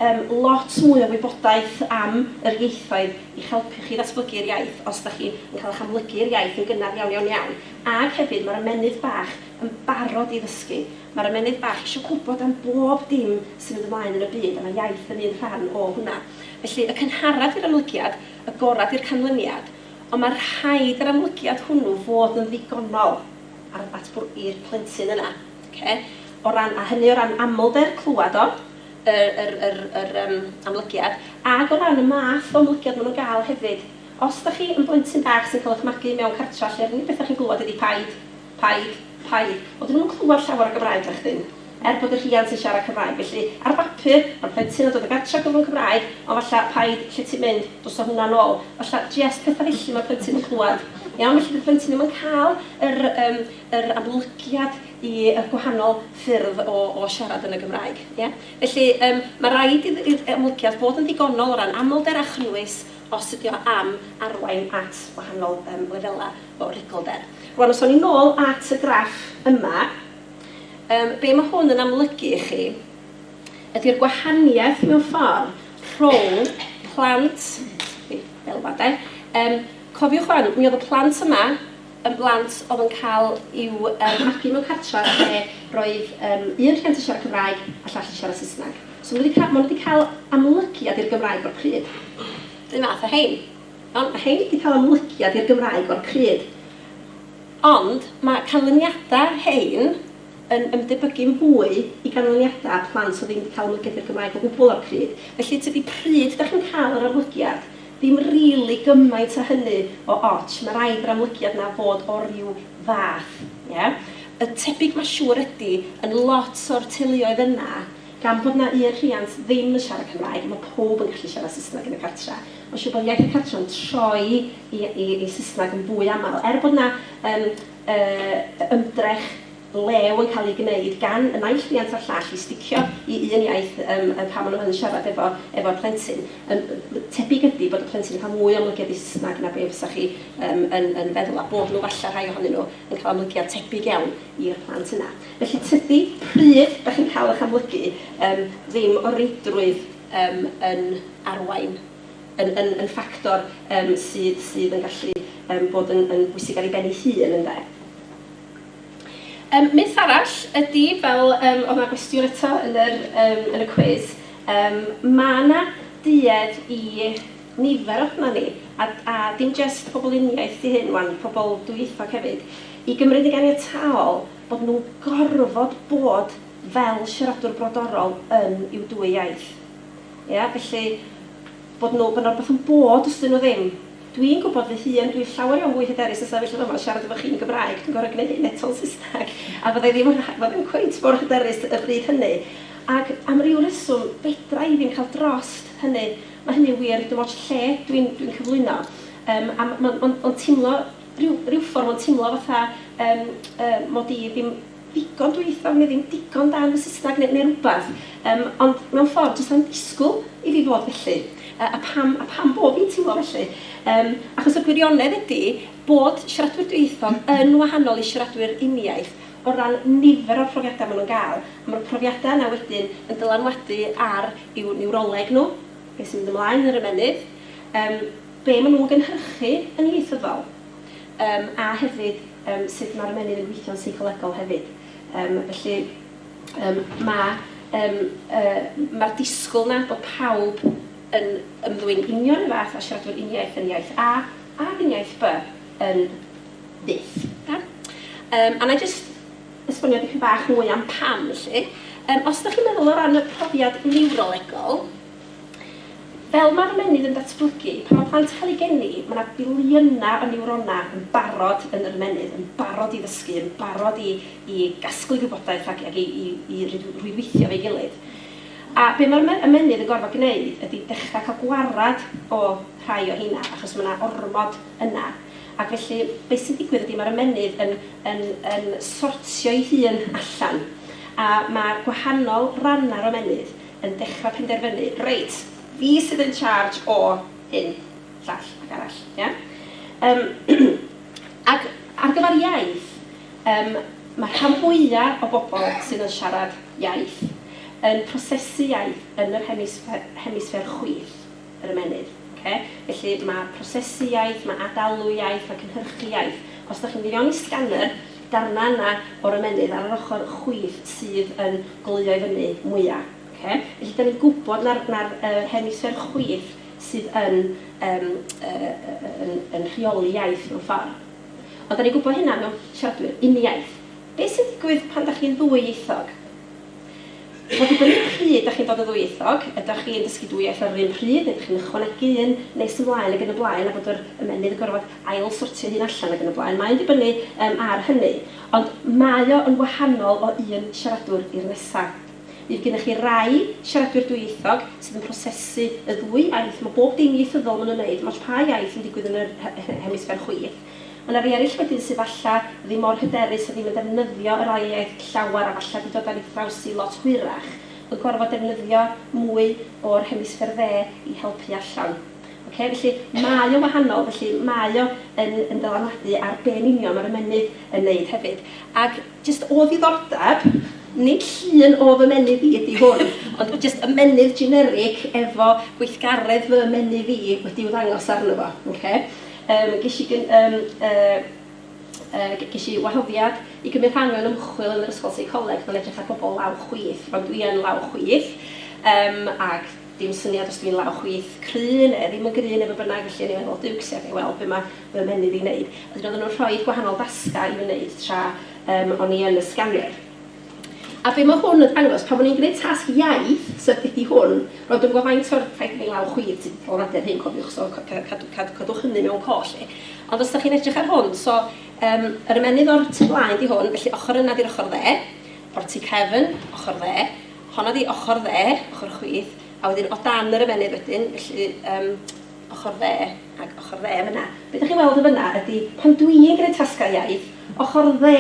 Yym, lot mwy o wybodaeth am yr ieithoedd i'ch helpu chi i ddatblygu'r iaith os dach chi yn cael eich amlygu i'r iaith yn gynnar iawn, iawn, iawn. Ag hefyd, mae'r ymennydd bach yn barod i ddysgu. Mae'r ymennydd bach eisiau gwybod am bob dim sy'n mynd ymlaen yn y byd, a mae iaith yn un rhan o hwnna. Felly, y cynharaf di'r amlygiad, y gorau di'r canlyniad, ond mae rhaid yr amlygiad hwnnw fod yn ddigonol ar, at bwr-, i'r plentyn yna. Oce? O ran, a hynny o ran amlder, clywed o, yr, yr, yr, yr yym, amlygiad, ac o ran y math o amlygiad ma' nhw'n gael hefyd. Os dach chi yn blentyn bach sy'n cael eich magu mewn cartra lle yr unig beth dach chi'n glywed ydi paid, paid, paid. Wel, 'dyn nhw'm yn clywed llawer o Gymraeg nachdyn? Er bod y rhiant yn siarad Cymraeg. Felly, ar bapur, ma'r plentyn yn dod o gartra cyfrwng Cymraeg, ond falla, paid, lle ti'n mynd, dos â hwnna nôl. Falla, jest petha felly ma'r plentyn yn clywed. Iawn? Felly, 'di'r plentyn ddim yn cael yr, yym, yr amlygiad y gwahanol ffyrdd o o siarad yn y Gymraeg. Ie? Felly, yym, ma' raid i'r i'r amlygiad fod yn ddigonol o ran amlder a chynnwys os ydi o am arwain at wahanol yym lefela' o rigolder. Rŵan, os awn ni nôl at y graff yma, yym, be' ma' hwn yn amlygu i chi ydi'r gwahaniaeth mewn ffor rhwng plant, fel 'ma 'de, yym, cofiwch ŵan, mi o'dd y plant yma yn blant oedd yn cael i'w yym magu mewn cartref lle roedd yym un rhiant yn siarad Cymraeg a llall yn siarad Saesneg. So maen nhw wedi cael, maen nhw wedi cael amlygiad i'r Gymraeg o'r pryd. Yr un fath â rhein. Iawn? Mae rhein wedi cael amlygiad i'r Gymraeg o'r pryd. Ond mae canlyniadau rhein yn ymdebygu'n fwy i ganlyniadau plant oedd ddim wedi cael amlygiad i'r Gymraeg o gwbl o'r pryd. Felly tydi pryd dach chi'n cael yr amlygiad Ddim rili gymaint a hynny o ots, ma raid yr amlygiad na fod o ryw fath, ie? Y tebyg ma siŵr ydi, yn lot o'r teuluoedd yna, gan bod na un rhiant ddim yn siarad Cymraeg, ma powb yn gallu siarad Saesneg yn y cartre. Ma siŵr bod iaith y cartre yn troi i i i Saesneg yn fwy amal, er bod na yym yy ymdrech blew yn cael ei gwneud gan y naill riant a'r llall i sticio i un iaith yym yn pan maen nhw yn siarad efo efo'r plentyn. Yym tebyg ydi bod y plentyn yn cael mwy o ymlygiad i Saesneg na be fysa chi yym yn yn feddwl a bod nhw falle rhai ohonyn nhw yn cael ymlygiad tebyg iawn i'r plant yna. Felly tydi pryd dach chi'n cael eich amlygu yym ddim o reidrwydd yym yn arwain yn yn yn ffactor yym sydd sydd yn gallu yym bod yn yn bwysig ar ei ben ei hun ynde? Yym myth arall ydi fel yym o'dd 'na gwestiwn eto yn yr yym yn y cwis yym ma' 'na duedd i nifer ohona ni a d- a dim jyst pobl uniaith 'di hyn 'wan, pobl dwyieithog hefyd, i gymryd yn ganiataol bod nhw'n gorfod bod fel siaradwr brodorol yn i'w dwy iaith. Ia? Felly bod nhw bo' 'na rwbath yn bod os 'dyn nhw ddim. Dwi'n gwybod fy hun, dwi'n llawer iawn fwy hyderus yn sefyll fama siarad efo chi yn Gymraeg, dwi'n gorfod gneud hyn eto'n Saesneg, a fydda i ddim yn rha- fydda i ddim cweit mor hyderus y bryd hynny. Ac am ryw reswm, fedra i ddim cael drost hynny. Mae hynny'n wir dim ots lle dwi'n dwi'n cyflwyno. Yym a m- m- m- m- ma'n teimlo, ryw ryw ffordd, ma'n teimlo fatha yym yy mod i ddim... ddigon dwyieithog neu ddim digon da yn fy Saesneg neu neu rwbath yym ond mewn ffordd does na'm disgwyl i fi fod felly yy a pam a pam bo' fi'n teimlo felly yym achos y gwirionedd ydi bod siaradwyr dwyieithog yn wahanol i siaradwyr uniaith o ran nifer o'r profiadau ma' nhw'n ga'l a ma'r profiadau yna wedyn yn dylanwadu ar i'w niwroleg nhw be' sy'n mynd ymlaen yn yr ymennydd yym be' ma' nhw'n gynhyrchu yn ieithyddol. Yym, a hefyd, yym, sut mae'r ymennydd yn gweithio'n seicolegol hefyd. Yym, felly, yym, ma', yym, yy, ma'r disgwyl 'na bod pawb yn ymddwyn union yr fath a siaradwyr uniaith yn iaith A ac yn iaith By yn fyth. Iawn? Yym, a wna i jyst esbonio dipyn bach mwy am pam, felly. Yym, os dach chi'n meddwl o ran y profiad niwrolegol, Fel mae'r ymennydd yn datblygu, pan mae plant yn cael eu geni, mae 'na filiynau o niwronau yn barod yn yr ymennydd, yn barod i ddysgu, yn barod i i gasglu gwybodaeth ac ac i i i rwydweithio efo'i gilydd. A be' mae'r me- ymennydd yn gorfod gneud ydi dechra cael gwarad o rhai o rheina, achos mae 'na ormod yna. Ac felly, be' sy'n digwydd ydi mae'r ymennydd yn yn yn sortio'i hun allan, a ma' gwahanol rannau'r ymennydd, yn dechrau penderfynu, reit, fi sydd yn charge o hyn, llall ac arall, ia? Yym ac ar gyfer iaith, yym mae'r rhan fwya' o bobl sydd yn siarad iaith yn prosesu iaith yn yr hemisffer chwith. yr ymennydd. Oce? Felly, ma' prosesu iaith, ma' ad-alw iaith, ma' cynhyrchu iaith. Os dach chi'n mynd i fewn i scanner, darna yna o'r ymennydd ar yr ochr chwith sydd yn goleuo i fyny mwya. Oce? Felly, dan ni'n gwybod na'r na'r yy hemisffer chwith sydd yn yym yy yy yn yn rheoli iaith mewn ffor. Ond dan ni'n gwybod hynna mewn siaradwyr uniaith. Be sy'n digwydd pan 'da chi'n ddwyieithog? Mae'n dibynnu pryd 'da chi'n dod yn ddwyieithog, ydach chi'n dysgu dwy iaith ar yr un pryd neu 'dach chi'n ychwanegu un nes ymlaen ac yn y blaen a bod yr ymennydd yn gorfod ail-sortio'i hun allan ac yn y blaen. Mae'n dibynnu yym ar hynny. Ond mae o yn wahanol o un siaradwr i'r nesa. Fydd gennych chi rai siaradwyr dwyieithog sydd yn prosesu y ddwy iaith, mae bob dim ieithyddol ma' nhw'n neud, 'dim ots pa iaith sy'n digwydd yn yr he- he- hemisffer chwith, Mae yna rei eraill wedyn sydd falla ddim mor hyderus a ddim yn defnyddio yr ail iaith llawer a falla 'di dod ar ei thraws hi lot hwyrach yn gorfod defnyddio mwy o'r hemisffer dde i helpu allan. Ocê, felly mae o'n wahanol, felly mae o yn yn dylanwadu ar be yn union mae'r ymennydd yn neud hefyd. Ac jyst o ddiddordeb, nid llun o fy ymennydd i ydi hwn, ond jyst ymennydd generic efo gweithgaredd fy ymennydd i wedi'w ddangos arno fo. Ocê? Yym, ges i gyn- yym, yy, yy, ges i wahoddiad i gymryd rhan mewn ymchwil yn yr Ysgol Seicoleg, mae'n edrych ar bobl law chwith, rwan dwi yn law chwith, yym, ac dim syniad os dwi'n law chwith cry neu ddim yn gry neu be bynnag, felly o'n i'n meddwl, Duwcs, ia, ga'i weld be mae fy menydd i'n wneud. A wedyn oedden nhw'n rhoi gwahanol dasgau i fi wneud tra yym o'n i yn y sganiwr. A be mae hwn yn ddangos, pan o'n i'n gwneud tasg iaith, sef dydy hwn, roeddwn yn gweld faint o'r, rhaid i mi law chwith sydd wedi bod adeg hyn, cofiwch, so cadwch hynny mewn coll chi. Ond os da chi'n edrych ar hwn, so um, yr ymennydd o'r tu flaen di hwn, felly ochr yna di'r ochr dde, o'r tu cefn, ochr dde, honna di ochr dde, ochr chwith, a wedyn o dan yr ymennydd wedyn, felly um, ochr dde ac ochr dde yn fyna. Be dach chi'n weld yn fyna ydy pan dwi'n gwneud tasgau iaith, ochr dde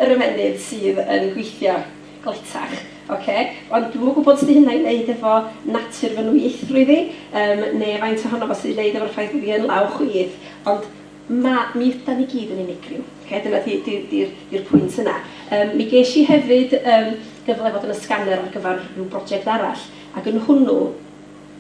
yr ymennydd sydd yn gweithio gletach, ocê? Ond dwi'm yn gwybod sut 'di hynna i wneud efo natur fy nwyieithrwydd i, yym, neu faint ohono fo sydd i wneud efo'r ffaith bod fi yn law chwith, ond ma'... mi ydan ni gyd yn unigryw, ocê? Dyna 'di 'di 'di'r 'di'r pwynt yna. Yym, mi ges i hefyd, yym, gyfle i fod yn y scanner ar gyfer ryw broject arall, ac yn hwnnw,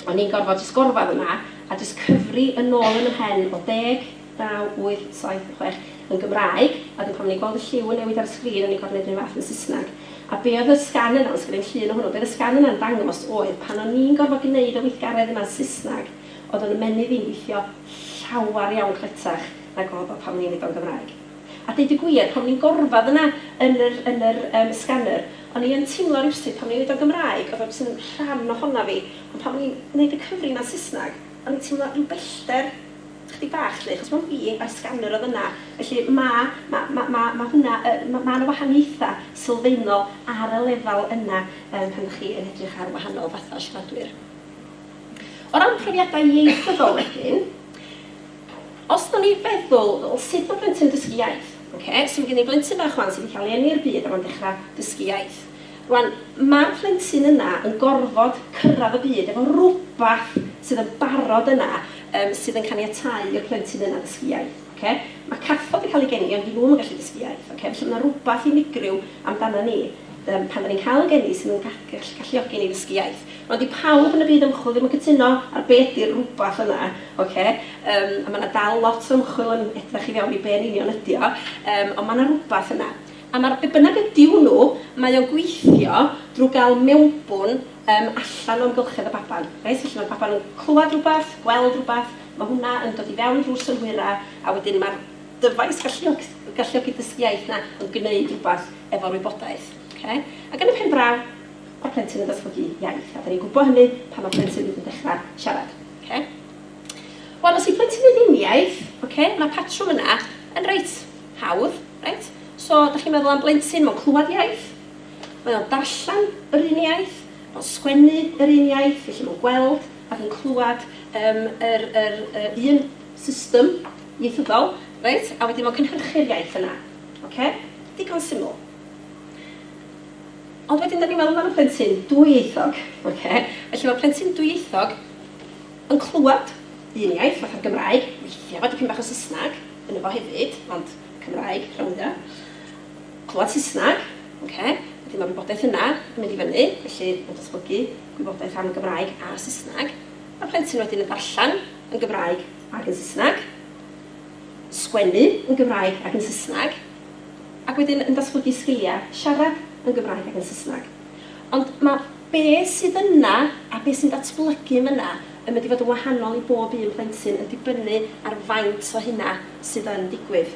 O'n i'n gorfod jyst gorfadd yna a jyst cyfri yn ôl yn 'y mhen o deg, naw, wyth, saith, chwech yn Gymraeg, a 'dyn pan o'n i'n gweld y lliw yn newid ar y sgrin o'n i'n gorfod neud yr un fath yn Saesneg. A be' oedd y sgan yna, os genai'm llun o hwnnw, be' oedd y sgan yna'n dangos oedd pan o'n i'n gorfod gneud y weithgaredd yma'n Saesneg, oedd o'n ymennydd i'n gweithio llawar iawn cletach nag oedd o pan o'n i'n neud o'n Gymraeg. A deud y gwir, pan o'n i'n gorfadd yna yn yr yn yr yym scanner, o'n i yn timlo rywsut pan o'n i'n neud o'n Gymraeg, o'dd o jys yn rhan ohona fi, ond pan o'n i'n neud y cyfri yna yn Saesneg, o'n i'n timlo ryw bellder chydig bach 'lly, achos mond fi a'r scanner o'dd yna. Felly ma' ma' ma' ma' ma' hwnna yy ma' ma' 'na wahaniaetha sylfaenol ar y lefal yna yym pan 'dach chi yn edrych ar wahanol fatha o siaradwyr. O ran profiada ieithyddol wedyn, Os da ni'n feddwl, wel sut ma plentyn dysgu iaith? Ok, so ma gen i blentyn bach wan sy di cael ei eni i'r byd a ma'n dechra dysgu iaith. Rwan, ma'r plentyn yna yn gorfod cyrradd y byd efo rwbath sydd yn barod yna yym sydd yn caniatáu i'r plentyn yna ddysgu iaith. Ok? Ma cathod yn cael ei geni ond di nhw'm yn gallu dysgu iaith. Ok? Felly ma na rwbath unigryw amdanan ni yym pan da ni'n cael y geni sydd yn galluogi ni ddysgu iaith. Ond dydi pawb yn y byd ymchwil ddim yn cytuno ar be ydi'r rwbath yna, ocê? Yym, a ma' 'na dal lot o ymchwil yn edrych i fewn i be yn union ydi o, yym, ond ma' 'na rwbath yna. A ma'r be bynnag ydi hwnnw, mae o'n gweithio drw ga'l mewnbwn yym allan o amgylchedd y baban, reit? Felly ma'r baban yn clwad rwbath, gweld rwbath, ma' hwnna yn dod i fewn drw'r synhwyra, a wedyn ma'r dyfais galluog- galluogi dysgu iaith 'na yn gneud rwbath efo'r wybodaeth, ocê? Ac yn y pen draw, Pa plentyn yn datblygu iaith? A dan ni'n gwybod hynny pan mae plentyn hyd yn dechrau siarad. Oce. Wel, os yw plentyn yn uniaith, oce, mae'r patrwm yna yn reit hawdd, reit? So, dach chi'n meddwl am blentyn, mae'n clywed iaith, mae o'n darllen yr un iaith, mae'n sgwennu yr un iaith, felly mae'n gweld ac yn clywed um, yr, yr, yr un system ieithyddol, reit? A wedyn mae'n cynhyrchu'r iaith yna. Oce? Digon syml. Ond wedyn, da ni'n meddwl am y plentyn dwyieithog. Okay? Felly mae plentyn dwyieithog yn clywed un iaith, fatha'r Gymraeg, weithiau fod dipyn bach o Saesneg yn efo hefyd, ond Cymraeg, rhan fwya. Clywed Saesneg, okay? Wedyn mae'r wybodaeth yna yn mynd i fyny, felly mae'n datblygu gwybodaeth am y Gymraeg a Saesneg. Mae plentyn wedyn yn darllen yn Gymraeg ac yn Saesneg, sgwennu yn Gymraeg ac yn Saesneg, ac wedyn yn datblygu sgiliau siarad yn Gymraeg ac yn Saesneg. Ond mae be sydd yna a be sy'n datblygu yna yn mynd i fod yn wahanol i bob un plentyn yn dibynnu ar faint o hynna sydd yn digwydd.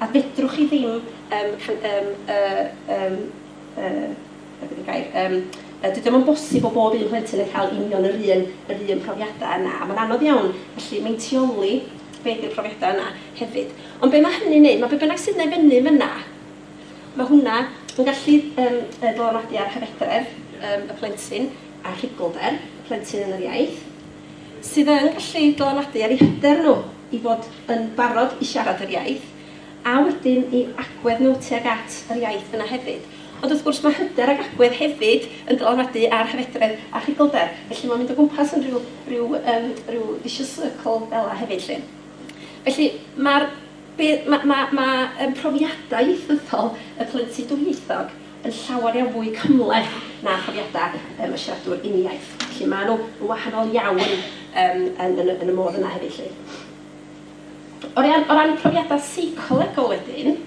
A fedrwch chi ddim yym can- yym yy yym yy be di'r gair yym yy dydi o'm yn bosib bod bob un plentyn yn cael union yr un yr un profiadau yna a mae'n anodd iawn felly meintioli Gwneud y profiadau yna hefyd. Ond be mae hynny'n neud, mae be bynnag sydd yna i fyny fyna, mae hwnna yn gallu um, dylanwadu ar hyfedredd um, y plentyn a rhugylder y plentyn yn yr iaith, sydd yn gallu dylanwadu ar eu hyder nhw i fod yn barod i siarad yr iaith, a wedyn i agwedd nhw tuag at yr iaith yna hefyd. Ond wrth gwrs, mae hyder ac agwedd hefyd yn dylanwadu ar hyfedredd a chigolder, felly mae'n mynd o gwmpas yn rhyw, rhyw, um, rhyw vicious circle fel yna hefyd 'lly. Felly, mae'r mae, mae, mae profiadau ieithyddol y plentyn dwyieithog yn llawer iawn fwy cymhleth na phrofiadau um, y siaradwr uniaith. Felly, maen nhw yn wahanol iawn um, yn, yn, yn y modd yna hefyd 'lly. O ran, o ran profiadau seicolegol wedyn,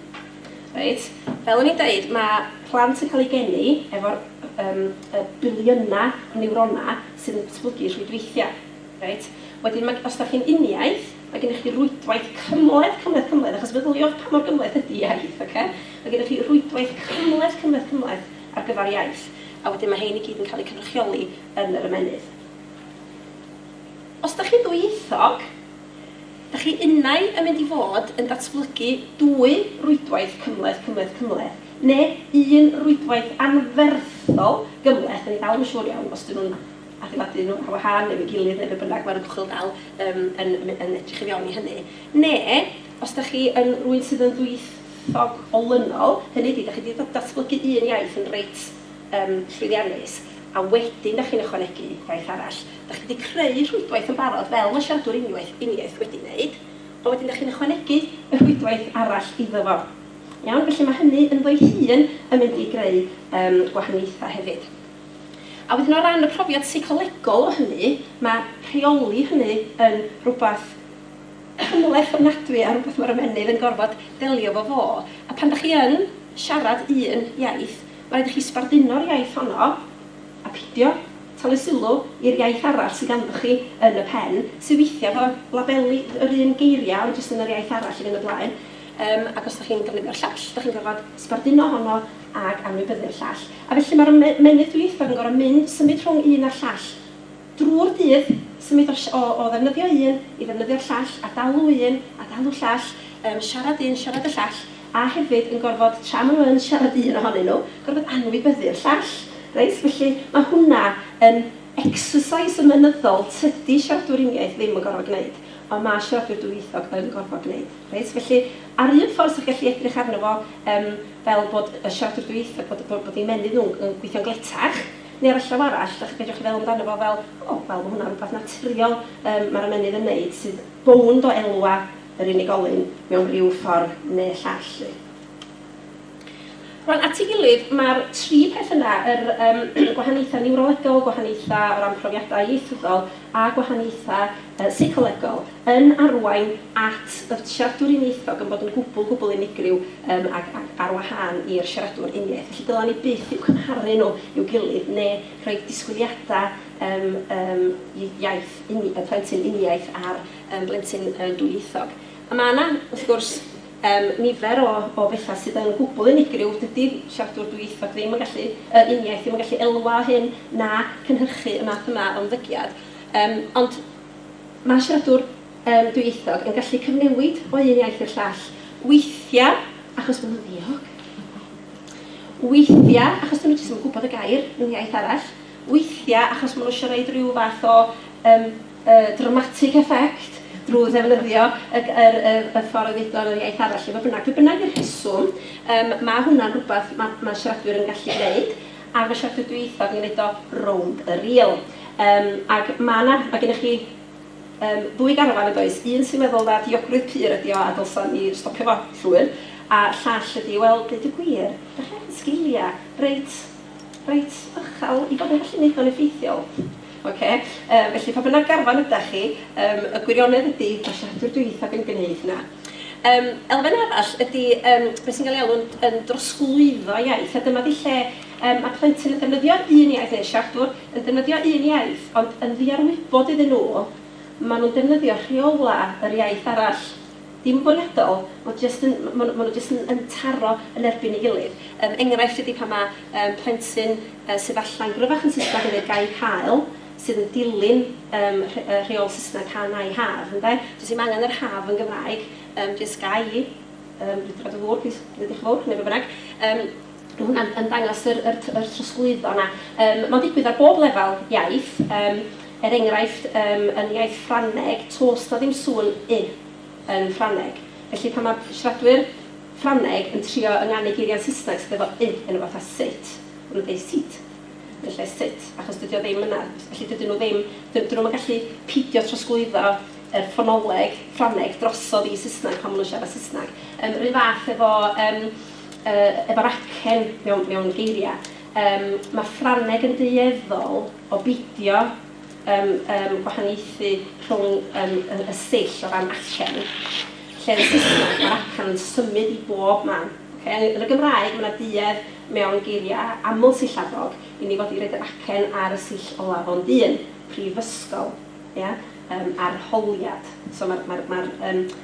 reit, fel o'n i'n deud, mae plant yn cael eu geni efo'r um, y biliynau o niwronau sydd yn datblygu rhwydweithiau. Reit? Wedyn, mae, os da chi'n uniaith, mae gennych chi rwydwaith cymleth, cymleth, cymleth, achos feddyliwch pa mor gymleth ydy iaith, oce? Okay? Mae gennych chi rwydwaith cymleth, cymleth, cymleth ar gyfer iaith, a wedyn mae hein i gyd yn cael eu cynrychioli yn yr ymennydd. Os da chi'n ddwyieithog, Da chi unai yn mynd i fod yn datblygu dwy rwydwaith cymhleth, cymhleth, cymhleth, neu un rwydwaith anferthol gymhleth, dan ni dal ddim yn siŵr iawn os ydyn nhw'n adeiladu nhw ar wahân neu efo'i gilydd neu be bynnag, mae'r ymchwil dal yym yn yn edrych i fewn i hynny. Neu, os da chi yn rywun sydd yn ddwyieithog olynol, hynny ydi, da chi 'di da- datblygu un iaith yn reit yym llwyddiannus, a wedyn da chi'n ychwanegu gwaith arall. Dach chi wedi creu rhwydwaith yn barod fel mae siaradwr unwaith uniaith wedi wneud, ond wedyn dach chi'n ychwanegu y rhwydwaith arall iddo fo. Iawn? Felly mae hynny ynddo'i hun yn mynd i greu yym gwahaniaethau hefyd. A wedyn o ran y profiad seicolegol o hynny, mae rheoli hynny yn rhywbeth cymhleth ofnadwy a rhywbeth mae'r ymennydd yn gorfod delio efo fo. A pan dach chi yn siarad un iaith, mae'n rhaid i chi sbarduno'r iaith honno a peidio Tynnu sylw i'r iaith arall sydd ganddoch chi yn y pen, sydd weithiau efo labeli yr un geiriau ond jyst yn yr iaith arall i fynd y blaen. Yym ac os dach chi'n defnyddio'r llall, dach chi'n gorfod sbarduno honno ac anwybyddu'r llall. A felly mae'r ymennydd dwyieithog yn gorfod mynd, symud rhwng un a'r llall drwy'r dydd, symud o o o ddefnyddio un i ddefnyddio'r llall, a dalu un a dalu llall, yym siarad un, siarad y llall. a hefyd yn gorfod, tra maen nhw yn siarad un ohonyn nhw, gorfod anwybyddu'r llall. Reit, felly mae hwnna yn exercise ymenyddol tydi siaradwyr uniaith ddim yn gorfod gwneud, ond mae siaradwyr dwyieithog yn gorfod gwneud. Reit, felly, ar un ffordd 'sa chi'n gallu edrych arno fo yym fel bod y siaradwr dwyieithog, bod bod bod eu menydd nhw'n yn gweithio'n gletach, neu ar y llaw arall, dach- fedrwch chi feddwl amdano fo fel, 'O, wel, mae hwnna'n rhywbeth naturiol yym mae'r ymennydd yn wneud sydd bownd o elwa, yr unigolyn mewn rhyw ffordd neu llall 'lly. Rwan, at ei gilydd, mae'r tri peth yna, yr yym gwahaniaethau niwrolegol, gwahaniaethau o ran profiadau ieithyddol a gwahaniaethau yy seicolegol, yn arwain at y siaradwr uniaethog yn bod yn gwbl, gwbl unigryw yym ac ac ar wahân i'r siaradwr uniaith. Felly, dylen ni byth eu cymharu nhw i'w gilydd neu rhoi disgwyliadau yym yym iaith uni- y plentyn uniaith ar yn blentyn yn dwyieithog. A mae yna, wrth gwrs, um, nifer o, o bethau sydd yn gwbl unigryw. Dydy siaradwr dwyieithog ddim yn gallu, uh, uniaith ddim yn gallu elwa o hyn na cynhyrchu y math yma o ymddygiad. Um, ond mae siaradwr um, dwyieithog yn gallu cyfnewid o un iaith i'r llall. Weithiau, achos bod nhw'n ddiog. Weithiau, achos dyn nhw jyst yn gwybod y gair mewn iaith arall. Weithiau, achos maen nhw eisiau rhoi rhyw fath o um, y dramatic effect drwy ddefnyddio y g- yr y y ffordd o ddeud o mewn iaith arall, lle fodd bynnag. Be bynnag 'di'r rheswm, yym, ma' hwnna'n rhywbeth ma' ma' siaradwyr yn gallu gwneud, a ma' siaradwyr dwyieithog yn gwneud o rownd y rîl. Yym, ac ma' 'na... ma' gennych chi, yym, ddwy garfan, yn does, un sy'n meddwl na diogrwydd pur ydi o a dylsan ni stopio fo llwyr, a'r llall ydi, wel, deud y gwir, dach chi angen sgiliau, reit, reit uchel i fod yn gallu wneud o'n effeithiol. Ocê? Yy, felly pa bynnag garfan ydach chi, yym, y gwirionedd ydy, mae siaradwr dwyieithog yn gneud hynna. Yym, elfen arall ydy yym, be sy'n cael ei alw'n yn drosglwyddo iaith, a dyma 'di lle yym, mae plentyn yn defnyddio un iaith, neu siaradwr yn defnyddio un iaith, ond yn ddiarwybod iddyn nhw, maen nhw'n defnyddio rheolau yr iaith arall. Dim yn bwriadol, ma' jyst yn, ma' ma' nhw jyst yn yn taro yn erbyn ei gilydd. Yym, enghraifft ydy pan ma' yym plentyn yy sydd falla'n gryfach yn Saesneg yn dweud gair haul, sydd yn dilyn yym rh- yy rheol Saesneg can I have, ynde? Does dim angen yr have yn Gymraeg, yym, jyst ga i, yym, dwi 'di rhoi dy ddŵr plîs, neu diolch yn fawr, neu be bynnag. Yym. Mae hwnna'n yn dangos yr yr t- yr trosglwyddo 'na. Yym ma'n digwydd ar bob lefel iaith, yym er enghraifft yym yn iaith Ffrangeg, toes 'na ddim sŵn 'y' yn Ffrangeg. Felly pan ma' siaradwyr Ffrangeg yn trio ynganu geiriau'n Saesneg sydd efo 'y' yno fo fatha 'sit', ma' nhw'n deud 'seat' yn lle 'sit', achos dydi o ddim yna. Felly dydyn nhw ddim... d- 'dyn nhw'm yn gallu peidio trosglwyddo yr ffonoleg Ffrangeg drosodd i Saesneg pan ma' nhw'n siarad Saesneg. Yym 'run fath efo yym Yy, efo'r acen, mewn, mewn geiriau. Yym, mae Ffrangeg yn dueddol o beidio yym, yym, gwahaniaethu rhwng yym, y, y sill o ran acen, lle yn Saesneg mae'r acen yn symud i bob man. Ocê? Yn y Gymraeg, mae 'na duedd mewn geiriau aml-sillabog i ni fod i roid yr acen ar y sill olaf ond un, prifysgol, ia? Yym, arholiad. So, mae'r, mae'r, mae'r, yym,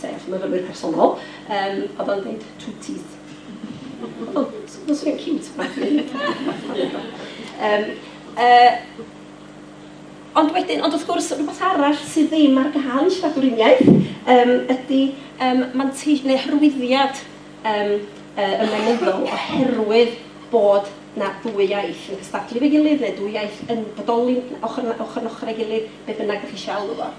sef myfyrwyr personol, um, oedd o'n dweud two teeth. Oedd o'n swnio'n cute, mae'n um, uh, Ond wedyn, ond wrth gwrs, rhywbeth arall sydd ddim ar gael yn siaradwr uniaith um, ydy um, manteis neu hyrwyddiad um, uh, ymenyddol oherwydd bod na ddwy iaith yn cystadlu fe gilydd neu ddwy iaith yn bodoli ochr, ochr yn ochr ei gilydd, be bynnag ydych chi eisiau alw fo.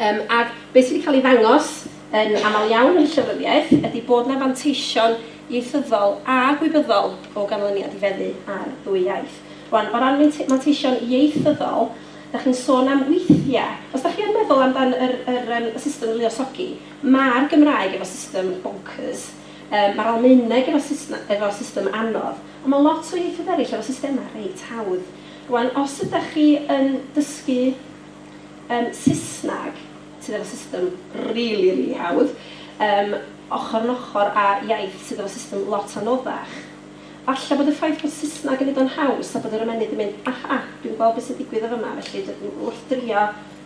Um, ac beth sydd wedi cael ei ddangos yn aml iawn yn y llyfryddiaeth ydy bod yna fanteision ieithyddol a gwybyddol o ganlyniad i feddu ar ddwy iaith. Rwan, o ran manteision ieithyddol, da chi'n sôn am weithiau. Os da chi yn meddwl amdan yr, yr, um, y system luosogi, mae'r Gymraeg efo system bonkers, um, mae'r Almaeneg efo, system, efo system anodd, ond mae lot o ieithoedd eraill efo systemau reit hawdd. Rwan, os ydych chi yn dysgu Yym Saesneg sydd efo system rili rili hawdd yym ochr yn ochr â iaith sydd efo system lot anoddach. Falle bod y ffaith bod Saesneg yn neud o'n haws a bod yr ymennydd yn mynd aha dwi'n gweld be sy'n digwydd yn fama felly dw- w- wrth drio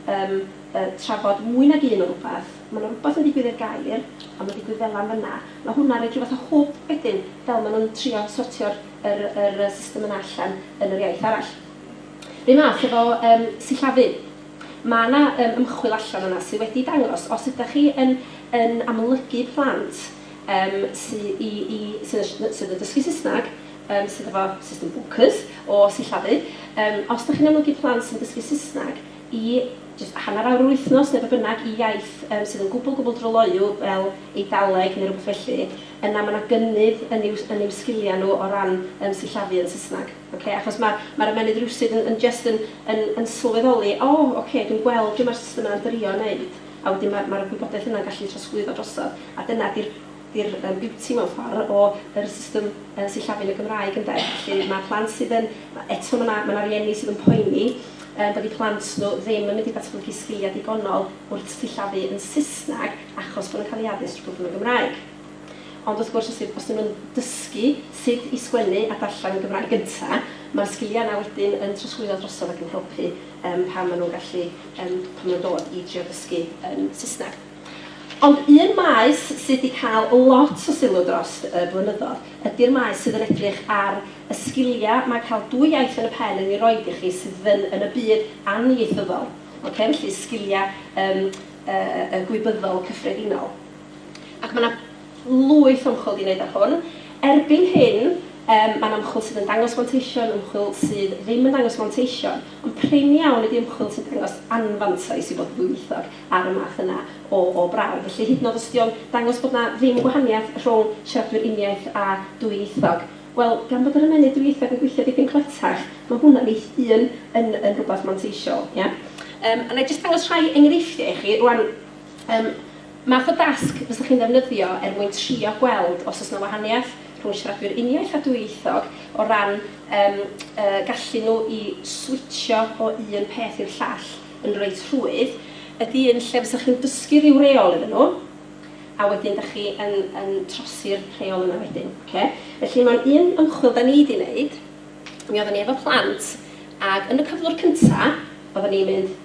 yym yy trafod mwy nag un o rwbath ma' 'na rwbath yn digwydd i'r gair a ma'n digwydd fela yn fynna. Ma' hwnna'n roid rhyw fath o hwb wedyn fel ma' nhw'n trio sortio'r yr yr yy system yna allan yn yr iaith arall. R'un math efo yym sillafu. Ma' 'na yym ymchwil allan yna sy wedi dangos os ydach chi yn yn amlygu plant yym sy i i sy yn sh- sydd yn dysgu Saesneg yym sydd efo system bonkers o sillafu yym os 'dach chi'n amlygu plant sy'n dysgu Saesneg i jyst hanner awr yr wythnos ne' be' bynnag i iaith yym sydd yn gwbwl gwbwl dryloyw fel Eidaleg ne' rwbeth felly yna ma' 'na gynnydd yn i'w yn i'w sgilia nw o ran yym sillafu yn Saesneg. Ok, achos mae'r mae'r ymennydd rywsut yn yn jyst yn yn yn sylweddoli, o, ok, dwi'n gweld be mae'r system yna'n drio wneud, a wedyn mae'r mae'r gwybodaeth yna'n gallu trosglwyddo drosodd, a dyna 'di'r 'di'r yym beauty mewn ffordd o yr system yy sillafu'n y Gymraeg ynde? Felly mae plant sydd yn... eto mae 'na mae 'na rieni sydd yn poeni yym bod eu plant nhw ddim yn mynd i ddatblygu sgiliau digonol wrth sillafu yn Saesneg achos bod nhw'n cael eu addysg drwy bod yn y Gymraeg. Ond wrth gwrs, os dy- os 'dyn nhw'n dysgu sut i sgwennu a darllen yn Gymraeg gynta', ma'r sgilia' 'na wedyn yn trosglwyddo drosodd ac yn helpu yym pan ma' nhw'n gallu yym pan ma' nhw'n dod i drio dysgu yym Saesneg. Ond un maes sy' 'di cael lot o sylw drost y blynyddodd ydi'r maes sydd yn edrych ar y sgilia' ma' cael dwy iaith yn y pen yn 'i roid i chi sydd yn yn y byd anniaethyddol, ocê, felly sgilia' yym yy yy gwybyddol cyffredinol. Ac mae 'na lwyth o ymchwil 'di wneud ar hwn. Erbyn hyn, yym, mae'n ymchwil sydd yn dangos manteision, ymchwil sydd ddim yn dangos manteision, ond prin iawn ydi ymchwil sy'n dangos anfantais i fod yn ddwyieithog ar y math yna o o brawf. Felly, hyd yn oed os ydi o'n dangos bod 'na ddim gwahaniaeth rhwng siaradwyr uniaith a dwyieithog, wel, gan bod yr ymennydd dwyieithog yn gweithio dipyn cletach, mae hwnna'n ei hun yn yn rhywbeth manteisiol, ia? Yym, a wna i jyst dangos rhai enghreifftiau i chi rŵan, yym, Math o dasg fysech chi'n ddefnyddio er mwyn trio gweld os oes yna wahaniaeth rhwng siaradwyr uniaith a dwyieithog o ran yym y gallu nhw i switsio o un peth i'r llall yn reit rhwydd ydy un lle fysech chi'n dysgu rhyw reol iddyn nhw a wedyn dach chi yn yn trosi'r rheol yna wedyn. Ocê? Felly mewn un ymchwil dan ni di neud mi oedden ni efo plant ag yn y cyflwr cynta oedden ni'n mynd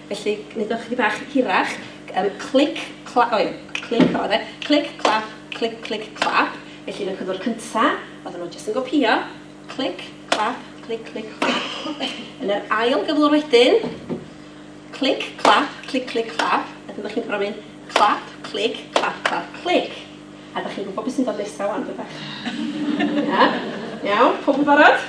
Felly, wneud o chydig bach hirach. Um, clic, clap, oh, clic o fe. Clic, clap, clic, clic, clap. Felly, yn y cyflwr cyntaf, oedden nhw jyst yn gopio. Clic, clap, clic, clic, clap. Yn yr ail gyflwr wedyn, clic, clap, clic, clic, clap. A dyna chi'n gorfod mynd clap, clic, clap, clap, clic. A dach chi'n gwybod beth sy'n dod nesaf wan, dydach? Ia? Iawn, pob yn barod?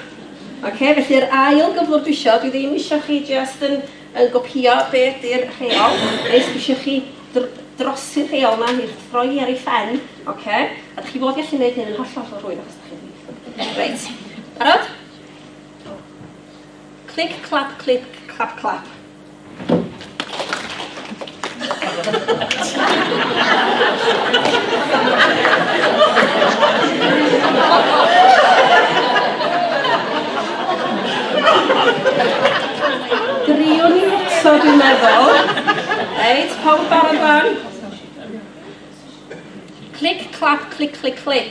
Ok, felly yr ail gyflwr dwi isio, dwi ddim eisiau chi just yn, yn gopio be ydy'r rheol, nes dwi eisiau chi dr drosi'r rheol yma i'r throi ar ei phen, ok? A dych chi fod gallu gwneud hyn yn holl holl rwydd achos dych chi'n rwydd. Reit, barod? Clic, clap, clic, clap, clap. Driwn ni eto, dwi'n meddwl. Reit, pawb barod fan? Clic, clap, clic, clic, clic.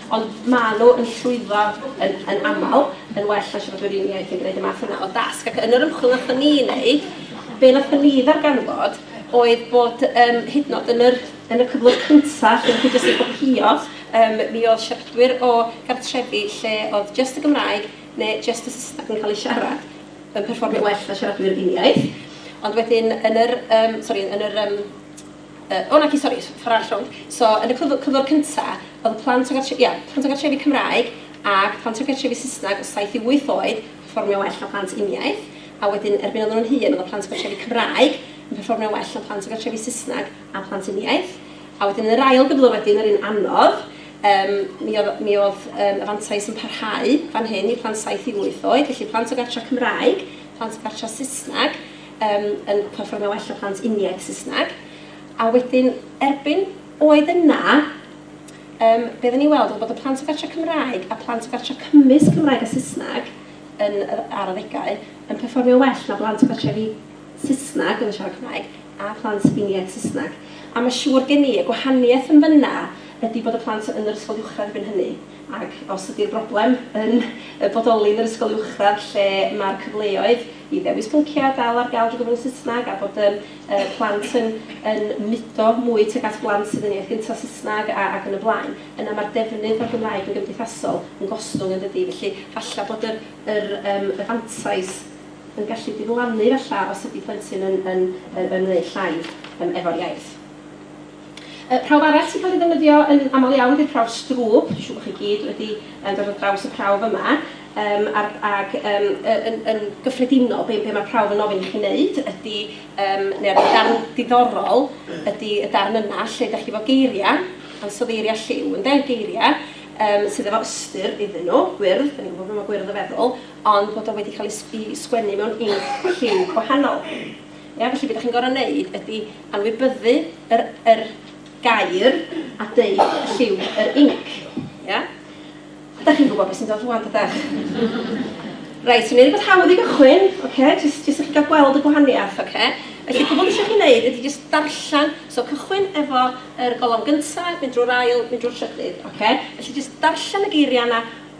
Ond maen nhw yn llwyddo yn yn aml yn well na siaradwyr un iaith yn gwneud y math yna o dasg. Ac yn yr ymchwil wnaethon ni wneud, be wnaethon ni ddarganfod oedd bod yym hyd yn oed yn yr yn y cyflwr cynta lle o'ch chi jyst yn copïo, yym mi oedd siaradwyr o gartrefi lle oedd jyst y Gymraeg neu jyst y Saesneg yn cael eu siarad yn perfformio'n well na siaradwyr un iaith. Ond wedyn yn yr yym sori yn yr yym O naci sori, ffor arall rownd. So yn y cyfl- cyflwr cynta o'dd y plant o gartre- ia, plant o gartrefi Cymraeg ag plant o gartrefi Saesneg o saith i wyth oed yn perfformio'n well na plant uniaith, a wedyn erbyn o'dden nhw'n hŷn o'dd y plant o gartrefi Cymraeg yn perfformio'n well na plant o gartrefi Saesneg a plant uniaith. A wedyn yn yr ail gyflwr wedyn, yr un anodd, yym mi o'dd mi o'dd yym y fantais yn parhau fan hyn i plant saith i wyth oed, felly plant o gartre Cymraeg, plant o gartre Saesneg, Yym, yn perfformio well na plant uniaith Saesneg. A wedyn, erbyn oed yna, yym, be oedden ni'n weld oedd bod y plant o gartre Cymraeg a plant o gartre cymysg Cymraeg a Saesneg yn, ar adegau, yn perfformio well na blant o gartrefi Saesneg yn siarad Cymraeg a phlant uniaith Saesneg. A mae siŵr gen i, y gwahaniaeth yn fanna ydy bod y plant yn yr ysgol uwchradd erbyn hynny. Ac os ydy'r broblem yn y bodoli yn yr ysgol uwchradd lle mae'r cyfleoedd i ddewis pynciau dal ar gael drwy gyfrwng y Saesneg a bod yym yy plant yn yn mudo mwy tuag at blant sydd yn iaith gynta Saesneg a ac yn y blaen, yna mae'r defnydd o'r Gymraeg yn gymdeithasol yn gostwng yn dydi? Felly falle bod yr yr yym y fantais yn gallu diflannu falle os ydy plentyn yn yn yn ymwneud llai yym efo'r iaith. Y prawf arall sy'n cael ei ddefnyddio yn aml iawn ydy'r prawf strŵp. Siŵr bod chi gyd wedi um, dod ar draws y prawf yma. Um, ar, ac um, yn, yn gyffredinol, be, be mae'r prawf yn ofyn i chi wneud ydy, um, neu'r darn diddorol, ydy y darn yna lle ydych chi fo geiriau, ansoddeiriau lliw, yn de'r geiriau, um, sydd efo ystyr iddyn nhw, gwyrdd, da ni'n gwybod beth mae gwyrdd y feddwl, ond bod o wedi cael ei sgwennu mewn inc lliw gwahanol. Ia? Felly be dach chi'n gorfod wneud ydy anwybyddu yr, yr gair a deud lliw yr inc. Ia? Dach chi'n gwybod beth sy'n dod rwan, dydach? Reit, so ni'n rhywbeth hawdd i gychwyn, okay? jyst, jyst i chi gael gweld y gwahaniaeth. Okay? Felly, gwybod beth eisiau chi wneud ydy jyst darllen, so cychwyn efo yr golofn gyntaf, mynd drwy'r ail, mynd drwy'r trydydd. Okay? Felly, jyst darllen y geiriau yna,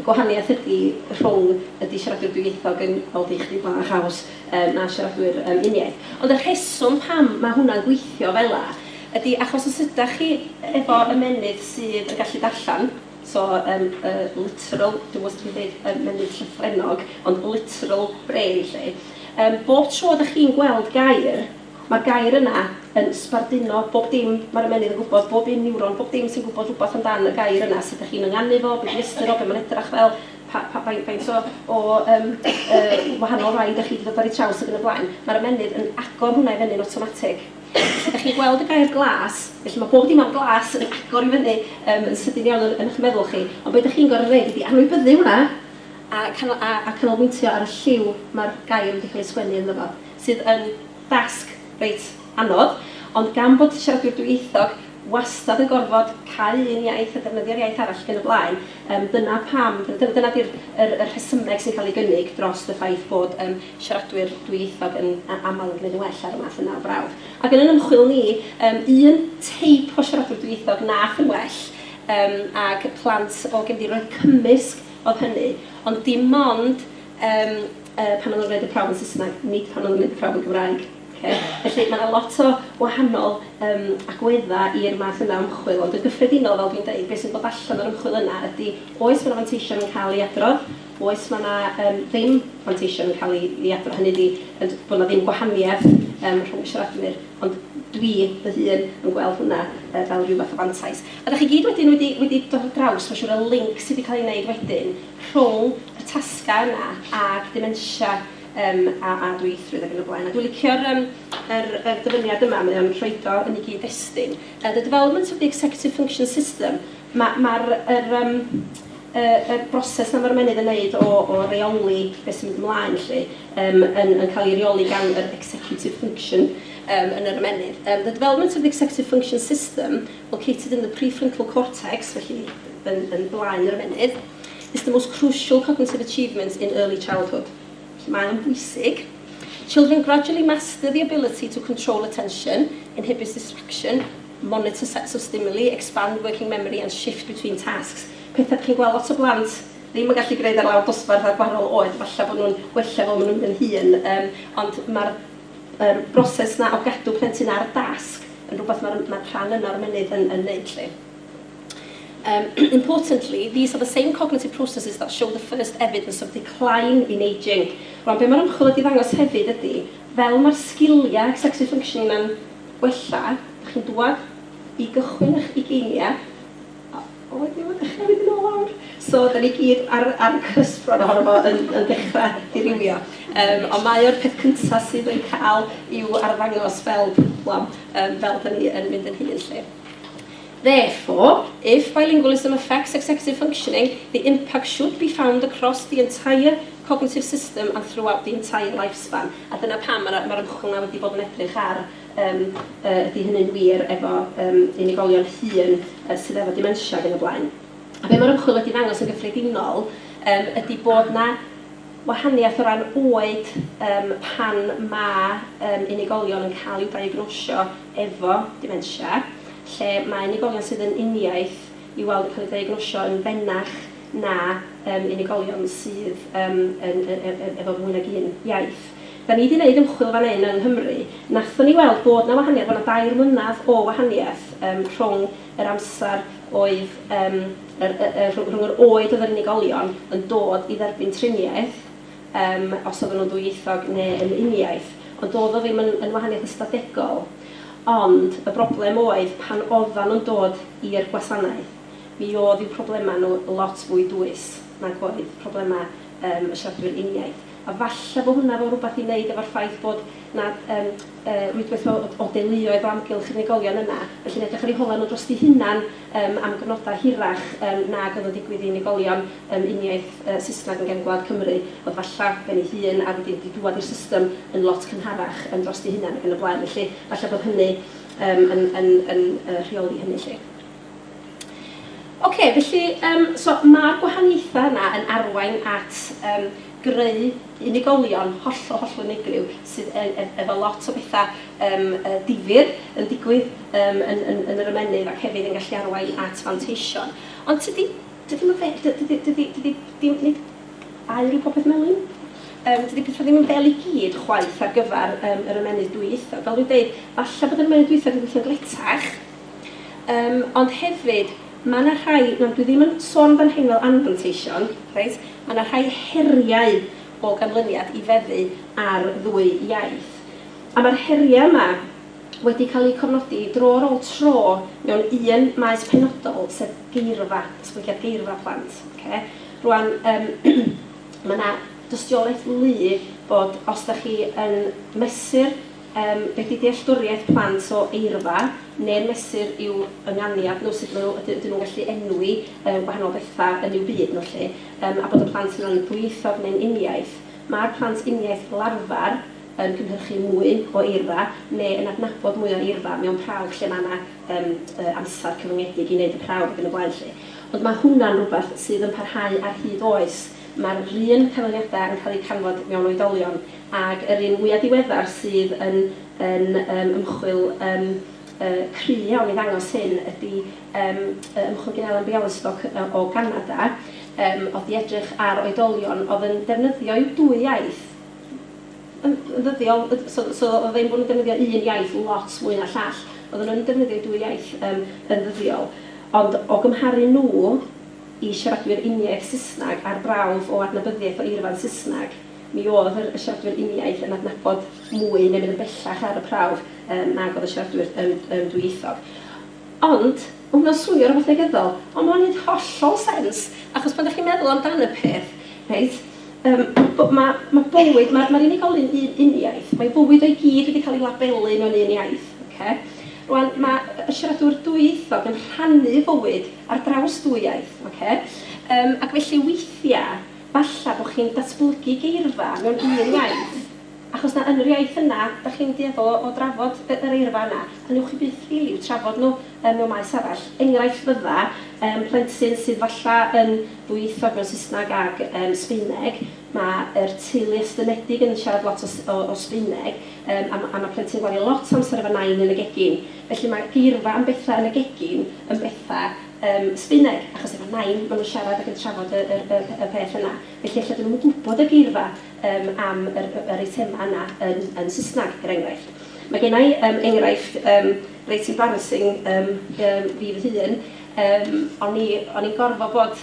Y gwahaniaeth ydi rhwng ydi siaradwyr dwyieithog yn, fel di chdi, bach haws yym na siaradwyr yym uniaith. Ond y rheswm pam ma' hwnna'n gweithio fela ydi achos os ydach chi efo ymennydd sydd yn gallu darllen, so yym y literal, dwi'm yn gwbod sut dwi'n deud ymennydd llythrennog, ond literal brain 'lly, yym bob tro dach chi'n gweld gair, Mae'r gair yna yn sbarduno bob dim, mae'r ymennydd yn gwybod, bob un niwron, bob dim sy'n gwybod rhywbeth amdan y gair yna, sut dych chi'n ynganu fo, be di ystyr o, be mae'n edrach fel, pa, pa, faint, faint o, o um, uh, wahanol rai dych chi wedi dod ar ei traws ac yn y blaen. Mae'r ymennydd yn agor hwnna i fyny'n automatic. Felly, dych chi'n gweld y gair glas, felly mae bob dim am glas yn agor i fyny um, yn sydyn iawn yn, yn eich meddwl chi, ond beth dych chi'n gorfod gwneud ydy anwybyddu hwnna a, canol, a, a canolbwyntio ar y lliw mae'r gair wedi cael ei sgwennu ynddo fo. sydd yn dasg reit anodd, ond gan bod siaradwyr dwyieithog wastad yn gorfod cau un iaith a defnyddio'r iaith arall ac yn y blaen, yym dyna pam, dyna dyna di'r yr y rhesymeg sy'n cael ei gynnig drost y ffaith bod yym siaradwyr dwyieithog yn a- aml yn gwneud yn well ar y math yna o brawf. Ac yn yn ymchwil ni, yym un teip o siaradwr dwyieithog wnaeth yn well, yym ag plant o gefndiroedd cymysg oedd hynny, ond dim ond Yym, yy, pan o'n nhw'n gwneud y prawf yn Saesneg, nid pan o'n nhw'n gwneud y prawf yn Gymraeg. Ocê? Felly, mae 'na lot o wahanol yym agweddau i'r math yna o ymchwil, ond yn gyffredinol, fel dwi'n deud, be sy'n dod allan o'r ymchwil yna ydy, oes mae 'na fanteision yn cael eu adrodd, oes mae 'na yym ddim manteision yn cael eu eu adrodd, hynny ydy, yn d- bod 'na ddim gwahaniaeth yym rhwng y siaradwyr, ond dwi fy hun yn gweld hwnna yy fel ryw fath o fantais. A dach chi gyd wedyn wedi wedi dod ar draws, mae'n siŵr, y linc sy' 'di cael ei wneud wedyn rhwng y tasgau yna ag dementia yym a a dwyieithrwydd ac yn y blaen. A dwi'n licio'r yym yr yr dyfyniad yma, mae o'n rhoid o yn ei gyd-destun. Uh, the development of the executive function system, mae ma'r yr yym y y broses na mae'r ymennydd yn wneud o o reoli beth sy'n mynd ymlaen lly um, yn yn cael ei reoli gan yr executive function um, yn yr ymennydd. Um, the development of the executive function system located in the prefrontal cortex, felly yn, yn blaen yr ymennydd, is the most crucial cognitive achievement in early childhood. Felly mae o'n bwysig. Children gradually master the ability to control attention, inhibit distraction, monitor sets of stimuli, expand working memory and shift between tasks. Pethau chi'n gweld lot o blant ddim yn gallu gwneud ar lawr dosbarth ar gwahanol oed, falle bod nhw'n gwella fel maen nhw'n mynd yn hŷn, um, ond mae'r yr broses 'na o gadw plentyn ar y dasg yn rhywbeth mae'r mae rhan yna o'r mynydd yn, yn neud lli. Um, importantly, these are the same cognitive processes that show the first evidence of decline in ageing. Rwan, be mae'r ymchwil wedi ddangos hefyd ydy, fel mae'r sgiliau executive functioning yna'n wella, ydych chi'n dwad i gychwyn eich ugeiniau, O ydw yn dechrau mynd yn ôl nawr? So dan ni gyd ar ar y cusp rŵan ohono fo yn yn dechrau dirywio. Yym ond mae o'r peth cynta sydd yn cael i'w arddangos fel problem yym fel dan ni yn mynd yn hŷn 'lly. Therefore, if bilingualism affects executive functioning, the impact should be found across the entire cognitive system and throughout the entire lifespan. A dyna pam mae'r mae'r ymchwil 'na wedi bod yn edrych ar Yym, yy, ydy hynny'n wir efo, yym, unigolion hŷn, yy, sydd efo dementia ac yn y blaen? A be' ma'r ymchwil wedi ddangos yn gyffredinol, yym, ydy bod 'na wahaniaeth o ran oed, yym, pan ma', yym, unigolion yn ca'l i'w diagnosio efo dementia, lle ma' unigolion sydd yn uniaith i'w weld yn ca'l eu diagnosio yn fenach na, yym, unigolion sydd, yym, yn, yy, yy, yy, efo mwy nag un iaith. Da ni 'di neud ymchwil fan 'yn yng Nghymru, nathon ni weld bod 'na wahaniath, bo' 'na dair mlynadd o wahaniath yym rhwng yr amsar oedd yym yr yy yy rhwng yr oed oedd yr unigolion yn dod i dderbyn triniaeth yym os oddan nhw'n ddwyieithog ne' yn uniaith, ond do'dd o ddim yn yn wahaniath ystadegol, ond y broblem oedd pan oddan nhw'n dod i'r gwasanaeth mi o'dd i'w problema nhw lot fwy dwys nag oedd problema yym y siaradwyr uniaith. A falle bo hwnna efo rwbath i neud efo'r ffaith bod 'na yym yy rwydwaith o o o deuluoedd o amgylch unigolion yna, felly'n edrych ar eu holau nhw drosti hunan yym am gyfnodau hirach yym nag oedd yn digwydd i unigolion yym uniaith yy Saesneg yn gefn gwlad Cymru, oedd falla ben ei hun a wedyn 'di dŵad i'r system yn lot cynharach yym drosti hunan ac yn y blaen. Felly falla bod hynny yym yn yn yn yy rheoli hynny 'lly. Ok, felly yym so ma'r gwahaniaethau yna yn arwain at yym greu unigolion hollol, hollol unigryw sydd e- e- efo lot o betha yym yy difyr yn digwydd yym yn yn yn yr ymennydd ac hefyd yn gallu arwain at fanteision. Ond tydi dydi ddim yn fe- dy- dydi dydi dydi dim nid aur yw popeth Melin. Yym dydi petha ddim yn fel i gyd chwaith ar gyfer yym yr ymennydd dwyieithog. Fel dwi'n deud, falle bod yr ymennydd dwyieithog yn gweithio'n gletach, Yym, ond hefyd, ma' 'na rhai, na, dwi ddim yn sôn yn fan hyn fel anfanteision, reit, ma' 'na rhai heriau o ganlyniad i feddu ar ddwy iaith. A ma'r heriau yma wedi cael eu cofnodi dro ar ôl tro mewn un maes penodol, sef geirfa, datblygiad geirfa plant, ocê? Rŵan, yym, ma' 'na dystiolaeth wlyb bod os 'dach chi yn mesur Yym, beth yw dealltwriaeth plant o eirfa, neu'r mesur i'w ynganiad nhw, sut maen nhw, yd- ydyn nhw'n gallu enwi yy gwahanol bethau yn eu byd nhw 'lly, yym, a bod y plant yno'n ddwyieithog neu'n uniaith. Mae'r plant uniaith fel arfer yn cynhyrchu mwy o eirfa, neu yn adnabod mwy o eirfa mewn prawf lle mae yna yym yy amser cyfyngedig i wneud y prawf ac yn y blaen 'lly. Ond mae hwnna'n rhywbeth sydd yn parhau ar hyd oes. Mae'r un canlyniadau yn cael eu canfod mewn oedolion ag yr un mwyaf diweddar sydd yn yn yym ymchwil yym yy cry iawn i ddangos hyn ydy yym yy ymchwil gin Ellen Bialystok yy o Ganada yym oedd 'di edrych ar oedolion oedd yn defnyddio i'w dwy iaith yn yn ddyddiol yy so so oedd ein bod nhw'n defnyddio un iaith lot mwy na llall. Oedden nhw'n defnyddio'u dwy iaith yym yn ddyddiol ond o gymharu nhw y siaradwyr uniaith Saesneg ar brawf o adnabyddiaeth o eirfa'n Saesneg, mi oedd yr y siaradwyr uniaith yn adnabod mwy neu mynd yn bellach ar y prawf yym nag oedd y siaradwyr yym yym dwyieithog. Ond, ma' hwnna'n swnio rwbath negyddol, ond ma'n neud hollol sens, achos pan 'dach chi'n meddwl amdan y peth, reit, yym b- ma' ma' bywyd, ma' ma'r unigolyn un uniaith, mae fywyd o i gyd wedi cael ei labelu mewn un iaith, ocê? Rŵan, ma' y y siaradwr dwyieithog yn rhannu fywyd ar draws dwy iaith, ocê? Yym, ac felly weithia', falla bo' chi'n datblygu geirfa mewn un iaith, achos na yn yr iaith yna 'dach chi'n dueddol o o drafod y yr eirfa yna, a newch chi byth rili i'w trafod nhw yym mewn maes arall. Enghraifft fydda', yym, plentyn sydd falla yn ddwyieithog mewn Saesneg ag yym Sbaeneg, ma' yr teulu estynedig yn siarad lot o s- o o Sbaeneg, yym, a ma' a ma' plentyn yn gwario lot o amser efo nain yn y gegin. Felly mae'r geirfa am bethau yn y gegin yn bethau yym Sbaeneg, achos efo Nain maen nhw'n siarad ac yn trafod y yr y y peth yna. Felly ella dydyn nhw'm yn gwybod y geirfa yym am yr y yr eitemau yna yn yn Saesneg, er enghraifft. Mae genna i yym enghraifft yym reit embarrassing yym yym fi fy hun. Yym o'n i o'n i'n gorfod bod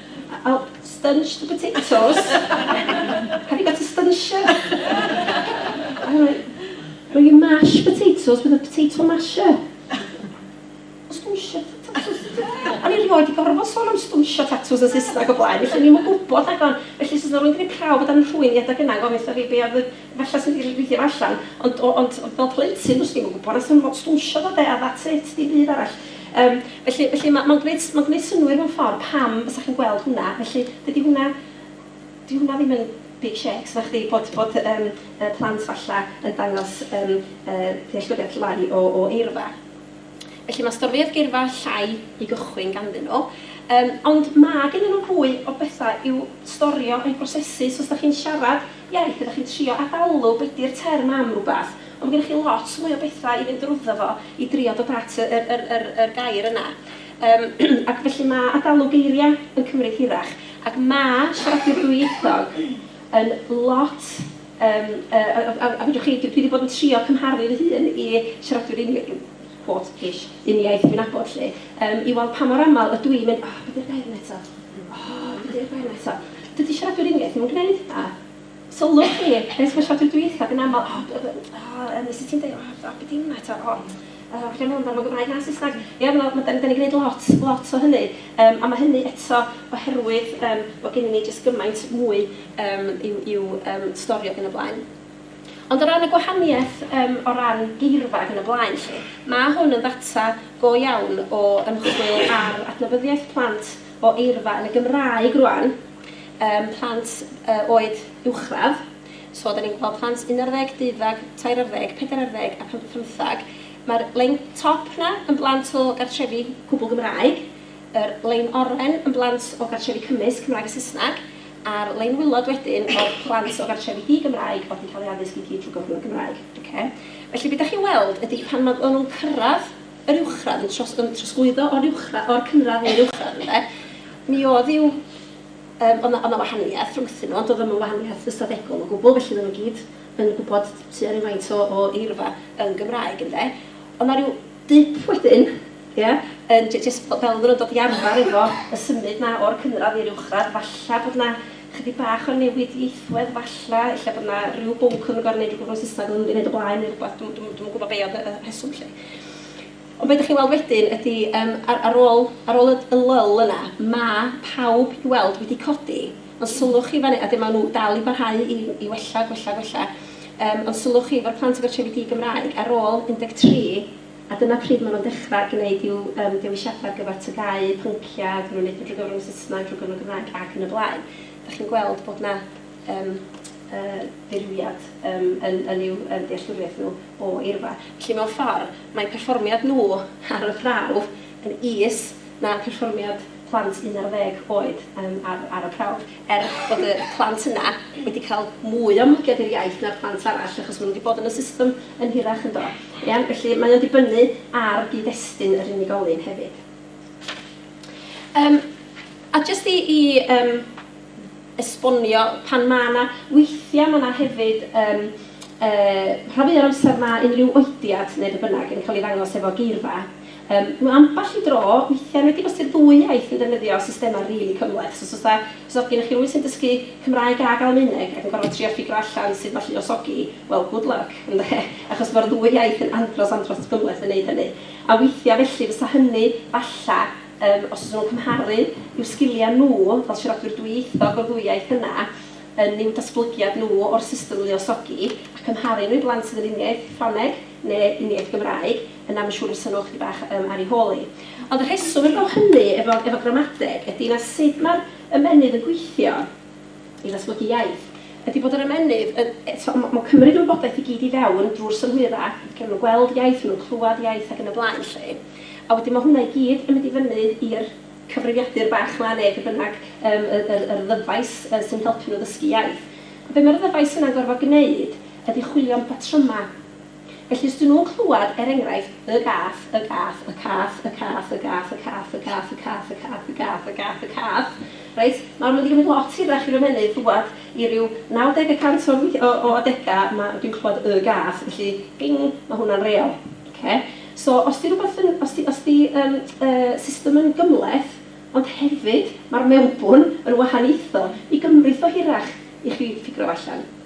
I'll stunch the potatoes. Have you got a stuncher? Will you mash potatoes with a potato masher? Stwnsio tatws. O'n i rioed i gorfod sôn am stwnsio tatws yn Saesneg o blaen, felly o'n i'm yn gwybod rhaglen. Felly os oes yna rhywun wedi gwneud prawf o dan y rhwyni adeg yna yn gofyn wrtha fi be oedd y... Falla swn i 'di rhoi fideo allan ond o- ond fel plentyn do'n i'm yn gwybod a swn i'm yn gwybod sut dawnsio fo de a that's it, dim byd arall. Yym felly felly ma' ma'n gwneud ma'n gwneud synnwyr mewn ffordd pam fysa chi'n gweld hwnna, felly dydy hwnna... 'di hwnna ddim yn big shakes nachdi bod bod yym y plant falla yn dangos yym yy dealltwriaeth lai o o eirfa. Felly mae storfeuoedd geirfa llai i gychwyn ganddyn nhw. Yym, ond mae gennyn nhw fwy o bethau i'w storio, a'u prosesu, so os dach chi'n siarad iaith a dach chi'n trio ad-alw be 'di'r term am rywbeth, ond mae gennych chi lot mwy o bethau i fynd drwyddo fo i drio dod at y yr yr yr yr gair yna. Yym, ac felly mae ad-alw geiriau yn cymryd hirach, ac mae siaradwyr dwyieithog yn lot Yym, a, a, a, a, a fedrwch chi, dwi, dwi 'di bod yn trio cymharu fy hun i siaradwyr uni-, quote, ish, uniaith dwi'n nabod 'lly, yym, i weld pa mor aml ydw i'n mynd, 'O, be 'di'r gair yna eto? O, be 'di'r gair yna eto? Dydy siaradwyr uniaith ddim yn gwneud hynna. Sylwch chi, rhai o'r siaradwyr dwytha, yn aml, 'O, be, be, o, yym, sut ti'n deud, o, be 'di hynna eto, o? Yy falle mond am y Gymraeg na Saesneg. Ie ma' ma' 'dan ni 'dan ni'n gneud lot lot o hynny yym a ma' hynny eto oherwydd yym bo' gennyn ni jyst gymaint mwy yym i'w i'w yym storio ag yn y blaen. Ond o ran y gwahanieth yym o ran geirfa ag yn y blaen 'lly, ma' hwn yn ddata go iawn o ymchwil ar adnabyddiaeth plant o eirfa yn y Gymraeg rŵan, yym plant yy oed uwchradd. So, 'da ni'n gweld plant un ar ddeg, deuddeg, tair ar ddeg, pedair ar ddeg a pump ar phymtheg. Mae'r lein top 'na yn blant o gartrefi cwbl Gymraeg, yr lein oren yn blant o gartrefi cymysg Cymraeg a Saesneg, a'r lein wilod wedyn o blant o gartrefi di-Gymraeg oedd yn cael eu addysg i gyd trwy gyfrwng y Gymraeg. Ocê? Felly, be 'da chi'n weld ydy pan ma- o'n nhw'n cyrraedd yr uwchradd, yn tros- yn trosglwyddo o'r uwchra- o'r cynradd i'r uwchradd, ynde, mi oedd i'w Yym, oedd 'na, oedd 'na wahaniaeth rhwngthyn nhw, ond doedd o ddim yn wahaniaeth ystadegol o gwbl, felly oedden nhw gyd yn gwybod tua rywfaint o o eirfa yn Gymraeg, ynde. Oedd 'na ryw dip wedyn, ia, yn j- jyst fel oedden nhw'n dod i arfer efo y symud 'na o'r cynradd i'r uwchradd, falle bod 'na chydig bach o newid ieithwedd, falle, ella bod 'na ryw bwnc oedd yn gorfod wneud rhywbeth mewn Saesneg oedd o ddim wedi wneud o blaen neu rywbeth, dwi'm, dwi'm, dwi'm yn gwybod be oedd y y rheswm 'lly. Ond be dych chi'n weld wedyn ydy, yym, ar, ar ôl, ar ôl y, y lull yna, mae pawb i weld wedi codi, ond sylwch chi fan hyn, a dyma maen nhw dal i barhau i, i wella, gwella, gwella, um, ond sylwch chi efo'r plant efo'r trefi di-Gymraeg, ar ôl 13, a dyma pryd maen nhw'n dechrau gwneud i'w um, dewisiadau ar gyfer tygau, pynciau, dyn nhw'n gwneud drwy gyfrwng y Saesneg, drwy gyfrwng y Gymraeg ac yn y blaen. Dych chi'n gweld bod yna um, uh, ddirywiad um, yn, yn i'w um, dealltwriaeth nhw o eirfa. Felly mewn ffordd, Mae perfformiad nhw ar y prawf yn is na perfformiad plant un ar ddeg oed ar y prawf, er bod y plant yna wedi cael mwy o ymddygiad i'r iaith na'r plant arall achos maen nhw wedi bod yn y system yn hirach, yn do? Iawn, felly mae o'n dibynnu ar gyd-destun yr unigolyn hefyd. Yym, a jyst i i yym esbonio pan ma' 'na... Weithia' ma' 'na hefyd yym yy rhan fwya o'r amser ma' unrhyw oediad ne' be' bynnag yn ca'l 'i ddangos efo geirfa. Yym ma' ambell i dro weithia' nid yn os 'di'r ddwy iaith yn defnyddio systema rili cymhleth. Os o's 'na... Os o's gynnoch chi rywun sy'n dysgu Cymraeg ag Almaeneg ac yn gorfod trio ffigro allan sut ma' lluosogi, wel good luck ynde? Achos ma'r ddwy iaith yn andros andros gymhleth yn neud hynny. A weithia' felly fysa hynny falla Yym, os ydyn nhw'n cymharu i'w sgiliau nhw fel siaradwyr dwyieithog o'r ddwy iaith yna, yn i'w datblygiad nhw o'r system luosogi, a chymharu nhw i blant sydd yn uniaith Ffrangeg neu uniaith Gymraeg, yna mae'n siŵr fysa nhw ychydig bach yym ar eu hôl hi. Ond y rheswm heb law hynny efo efo gramadeg ydy na sut mae'r ymennydd yn gweithio. i ddatblygu iaith, ydi bod yr ymennydd yn, t'mo', ma' ma'n cymryd y wybodaeth i gyd i fewn drw'r synhwyra', lle ma' nw'n gweld iaith, ma' nw'n clwad iaith ac yn y blaen 'lly. A wedyn ma' hwnna i gyd yn mynd i fyny i'r cyfrifiadur bach 'ma ne' be' bynnag, yym y yr yr ddyfais yy sy'n helpu nw ddysgu iaith. A be' ma'r ddyfais yna'n gorfod gneud ydi chwilio am batryma'. Felly, os 'dyn nhw'n clywed, er enghraifft, Y gath, y gath, y cath, y cath, y gath, y cath, y cath, y cath, y cath, y gath, y gath, y cath, reit, nawr ma' 'di gymryd lot hirach i'r ymennydd ddŵad i ryw 90 y cant o'r wei- o o adegau ma' dwi'n clywed Y gath, felly, bing, ma' hwnna'n real. Ocê? So, os 'di rywbeth yn, os 'di, os 'di yym y system yn gymhleth, ond hefyd ma'r mewnbwn yn wahaniaethol, mi gymrith o hirach i chi ffigro fo allan.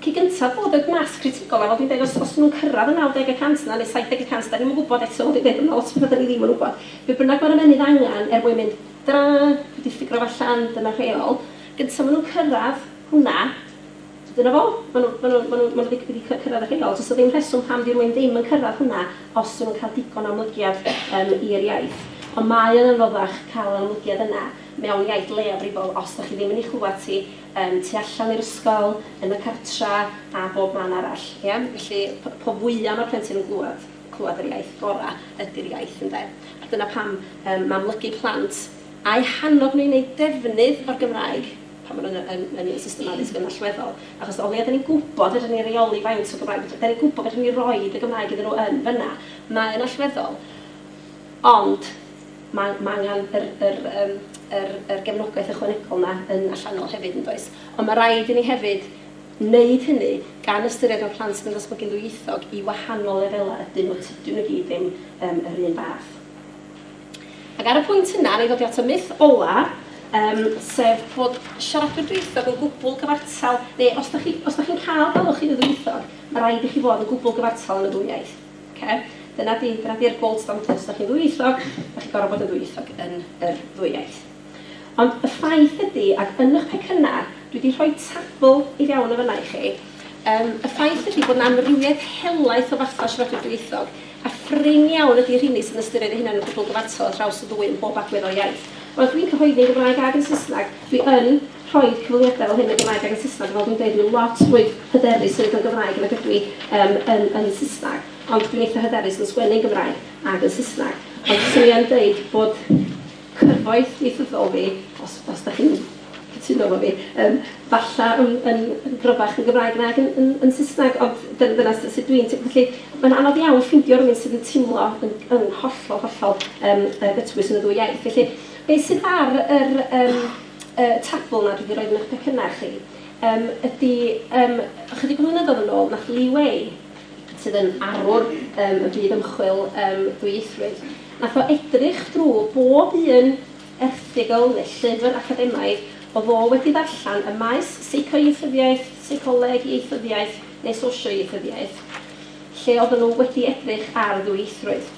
Cyn gynta bod y masg critigol a fel dwi'n deud os os nhw'n cyrraedd y 90 y cant yna neu 70 y cant dan ni'm yn gwybod eto fel dwi'n deud bod yna lot o betha dan ni ddim yn wybod. Be bynnag mae'r ymennydd angen er mwyn mynd da dwi 'di ffigro fo allan dyna rheol gynta ma' nhw'n cyrraedd hwnna dyna fo ma' nhw ma' nhw ma' nhw ma' nhw wedi wedi cyrraedd y rheol does 'na ddim rheswm pam 'di rywun ddim yn cyrraedd hwnna os 'dyn nhw'n cael digon o amlygiad yym i'r iaith ond mae o'n anoddach cael yr amlygiad yna mewn iaith leiafrifol os dach chi ddim yn ei chlywed hi Yym, tu allan i'r ysgol, yn y cartra, a bob man arall, ie? Felly, p- po fwya ma'r plentyn yn glwad, clwad yr iaith, gora ydi'r iaith, ynde? A dyna pam, yym, ma' amlygu plant, a'u hannog nhw i wneud defnydd o'r Gymraeg, pan ma' nhw'n y, yn, yn y system addysg yn allweddol. Achos o leia dan ni'n gwybod fedrwn ni reoli faint o Gymraeg fedr-, dan ni'n gwybod fedrwn ni roid y Gymraeg iddyn nhw yn fan'na, mae o'n allweddol. Ond. Mae mae angen yr yr yym yr yr gefnogaeth ychwanegol 'na yn allanol hefyd yn does? Ond ma' raid i ni hefyd wneud hynny gan ystyried fod plant mewn datblygu'n ddwyieithog i wahanol lefelau ydyn nhw, tydyn nhw i gyd ddim yym yr un fath. Ac ar y pwynt yna, wna i ddod i at y myth ola, yym sef bod siaradwyr dwyieithog yn gwbl gyfartal, neu os da chi os da chi'n cael galwch chi'n ddwyieithog, ma' raid i chi fod yn gwbl gyfartal yn y ddwy iaith. Oce, dyna 'di, dyna 'di'r gold standard, os 'da chi'n ddwyieithog, 'da chi'n gorfod bod yn ddwyieithog yn yr ddwy iaith. Ond y ffaith ydi, ac yn ych pecynna, dwi 'di rhoi tabl i fewn yn fan'na i chi, yym, y ffaith ydi bod 'na amrywiaeth helaeth o fathau o siaradwyr dwyieithog, a prin iawn ydi rheini sy'n ystyried eu hunain yn gwbl gyfartal ar draws y ddwy yn bob agwedd o'r iaith. Wel, dwi'n cyhoeddi'n Gymraeg ag yn Saesneg, dwi yn, rhoi cyfweliadau fel hyn yn Gymraeg ac yn Saesneg, fel dwi'n dweud, dwi lot fwy hyderus symud yn Gymraeg nag ydw i yym yn yn Saesneg, ond dwi'n eitha hyderus yn sgwennu yn Gymraeg ac yn Saesneg. Ond fyswn i yn deud bod cyfoeth ieithyddol fi, os os dach chi'n cytuno efo fi, yym falla yn yn yn gryfach yn Gymraeg nag yn yn yn Saesneg, ond dy- dyna s- sut dwi'n teimlo. Felly, mae'n anodd iawn ffeindio rywun sydd yn teimlo yn yn hollol, hollol yym yy gytbwys yn y ddwy iaith. Felly, beth sydd ar yr yym y tabl 'na dwi 'di roid yn 'ych pecynna chi yym ydi yym ychydig o flynyddoedd yn ôl nath Lee Way sydd yn arwr yym y byd ymchwil yym ddwyieithrwydd nath o edrych drw bob un erthygl ne' llyfr academaidd o'dd o wedi ddarllan ym maes seicoieithyddiaeth, seicoleg, ieithyddiaeth ne' sosioieithyddiaeth lle oddan nhw wedi edrych ar ddwyieithrwydd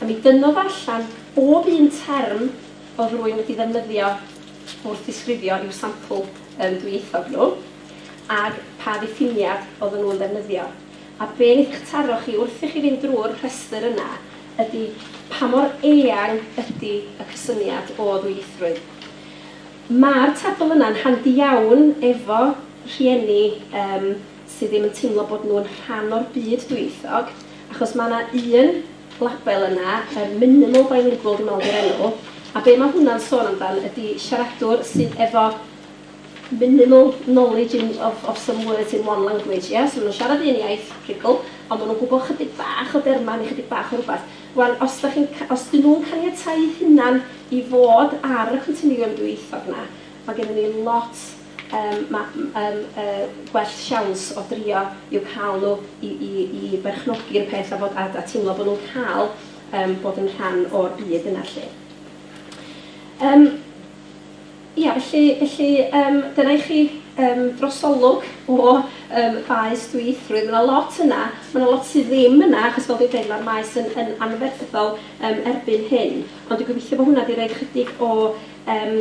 a mi dynnodd allan bob un term oedd rwy'n wedi ddefnyddio wrth ddisgrifio i'w sampl yym dwyieithog nhw, ac pa ddiffiniad oedden nhw'n ddefnyddio. A be wneith eich taro chi wrth i chi fynd drwy'r rhestr yna ydy pa mor eang ydy y cysyniad o ddwyieithrwydd. Mae'r tabl yna'n handi iawn efo rhieni yym sydd ddim yn teimlo bod nhw'n rhan o'r byd dwyieithog, achos mae 'na un label yna yr minimal bilingual dwi'n meddwl 'di'r enw a be mae hwnna'n sôn amdan ydi siaradwr sydd efo minimal knowledge in of of some words in one language ie so ma' nhw'n siarad un iaith rhugl ond ma' nhw'n gwybod chydig bach o derma neu chydig bach o rywbeth wan os da chi'n os dyn nhw'n caniatáu hunan i fod ar y continiwm dwyieithog 'na ma' gennym ni lot Yym mae yym yy gwell siawns o drio yw cael nhw i i i berchnogi'r peth a bod a a teimlo bod nhw'n cael yym bod yn rhan o'r byd yna 'lly. Yym ia felly felly yym dyna i chi yym drosolwg o yym faes dwyieithrwydd. Mae 'na lot yna, mae 'na lot sydd ddim yna achos fel dwi'n deud mae'r maes yn yn anferthol yym erbyn hyn. Ond dwi'n gobeithio bod hwnna 'di rhoi chydig o yym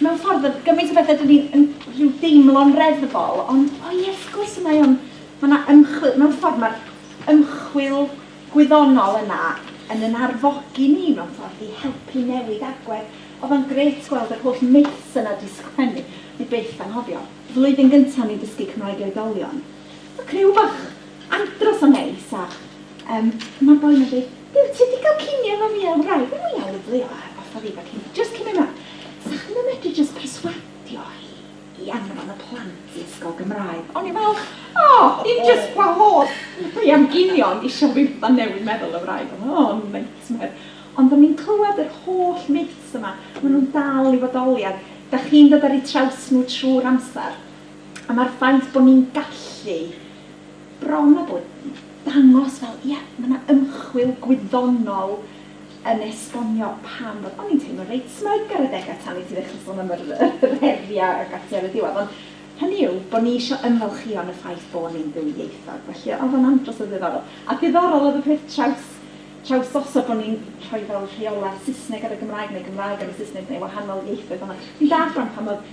Mewn ffordd, oedd gymaint o bethau 'da ni yn rhyw deimlo'n reddfol, ond o ie, wrth gwrs mae o'n, mae 'na ymchwil, mewn ffordd mae'r ymchwil gwyddonol yna yn yn arfogi ni mewn ffordd i helpu newid agwedd. Oedd o'n grêt gweld yr holl myths yna 'di sgwennu, o'n i byth anghofio. Flwyddyn gynta' o'n i'n dysgu Cymraeg i oedolion. Mae criw bach andros o neis a yym ma'r boi ma'n deud Duw ti di cael cinio efo fi a wraig fi mwya lyfli o a fatha fi fel jyst cinio mewn sa chdi'm yn medru jyst perswadio hi i anfon y plant i ysgol Gymraeg o'n i fel o dim jyst gwahodd fi am ginio ond isio fi fatha newid meddwl y wraig o o nightmare ond do'n i'n clywed yr holl myths yma ma' nhw'n dal i fodoli a dach chi'n dod ar eu traws nhw trwy'r amser. A mae'r ffaith bod ni'n gallu bron a bod dangos fel, ie, mae 'na ymchwil gwyddonol yn esbonio pam bod... O'n i'n teimlo reit smug ar adegau tan i ti ddechrau sôn am yr yr heriau ac ati ar y diwedd, ond hynny yw, bod ni isio ymfalchïo yn y ffaith bod ni'n ddwyieithog. Felly, oedd o'n andros o ddiddorol. A diddorol oedd y peth traws traws osod bod ni'n rhoi fel rheolau Saesneg ar y Gymraeg neu Gymraeg ar y Saesneg neu wahanol ieithoedd fel 'na. Fi'n dallt rŵan pam oedd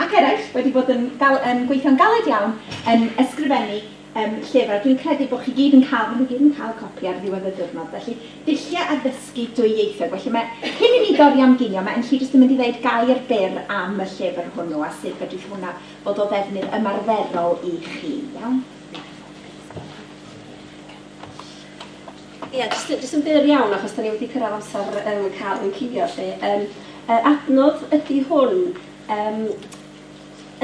ac eraill wedi bod yn gal- yn gweithio'n galed iawn yn ysgrifennu yym llyfr, a dwi'n credu bod chi gyd yn cael, maen nhw gyd yn cael copi ar ddiwedd y diwrnod, felly dulliau addysgu dwy ieithog. Felly mae, cyn i ni dorri am ginio, mae Enlli jyst yn mynd i ddeud gair byr am y llyfr hwnnw a sut fedrith hwnna fod o ddefnydd ymarferol i chi, iawn? Ie, jyst, jyst yn fyr iawn, achos dan ni wedi cyrraedd amser um, cael yn cuddio lle. Um, uh, adnodd ydy hwn, um,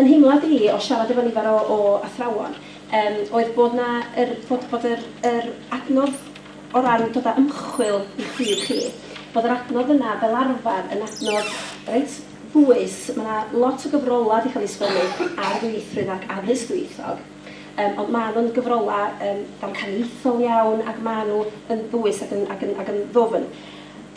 yn hymlad i o siarad efo nifer o, o athrawon, um, oedd bod, na, er, bod, bod yr, yr adnodd o ran dod â ymchwil i chi, chi, bod yr adnodd yna fel arfer yn adnodd reit ddwys, mae yna lot o gyfrolau wedi cael ei sgwennu ar ddwyieithrwydd ac addysg ddwyieithog, Yym, ond maen nhw'n gyfrolau yym damcaniaethol iawn ac maen nhw yn ddwys ac yn ac yn ac yn ddwfn.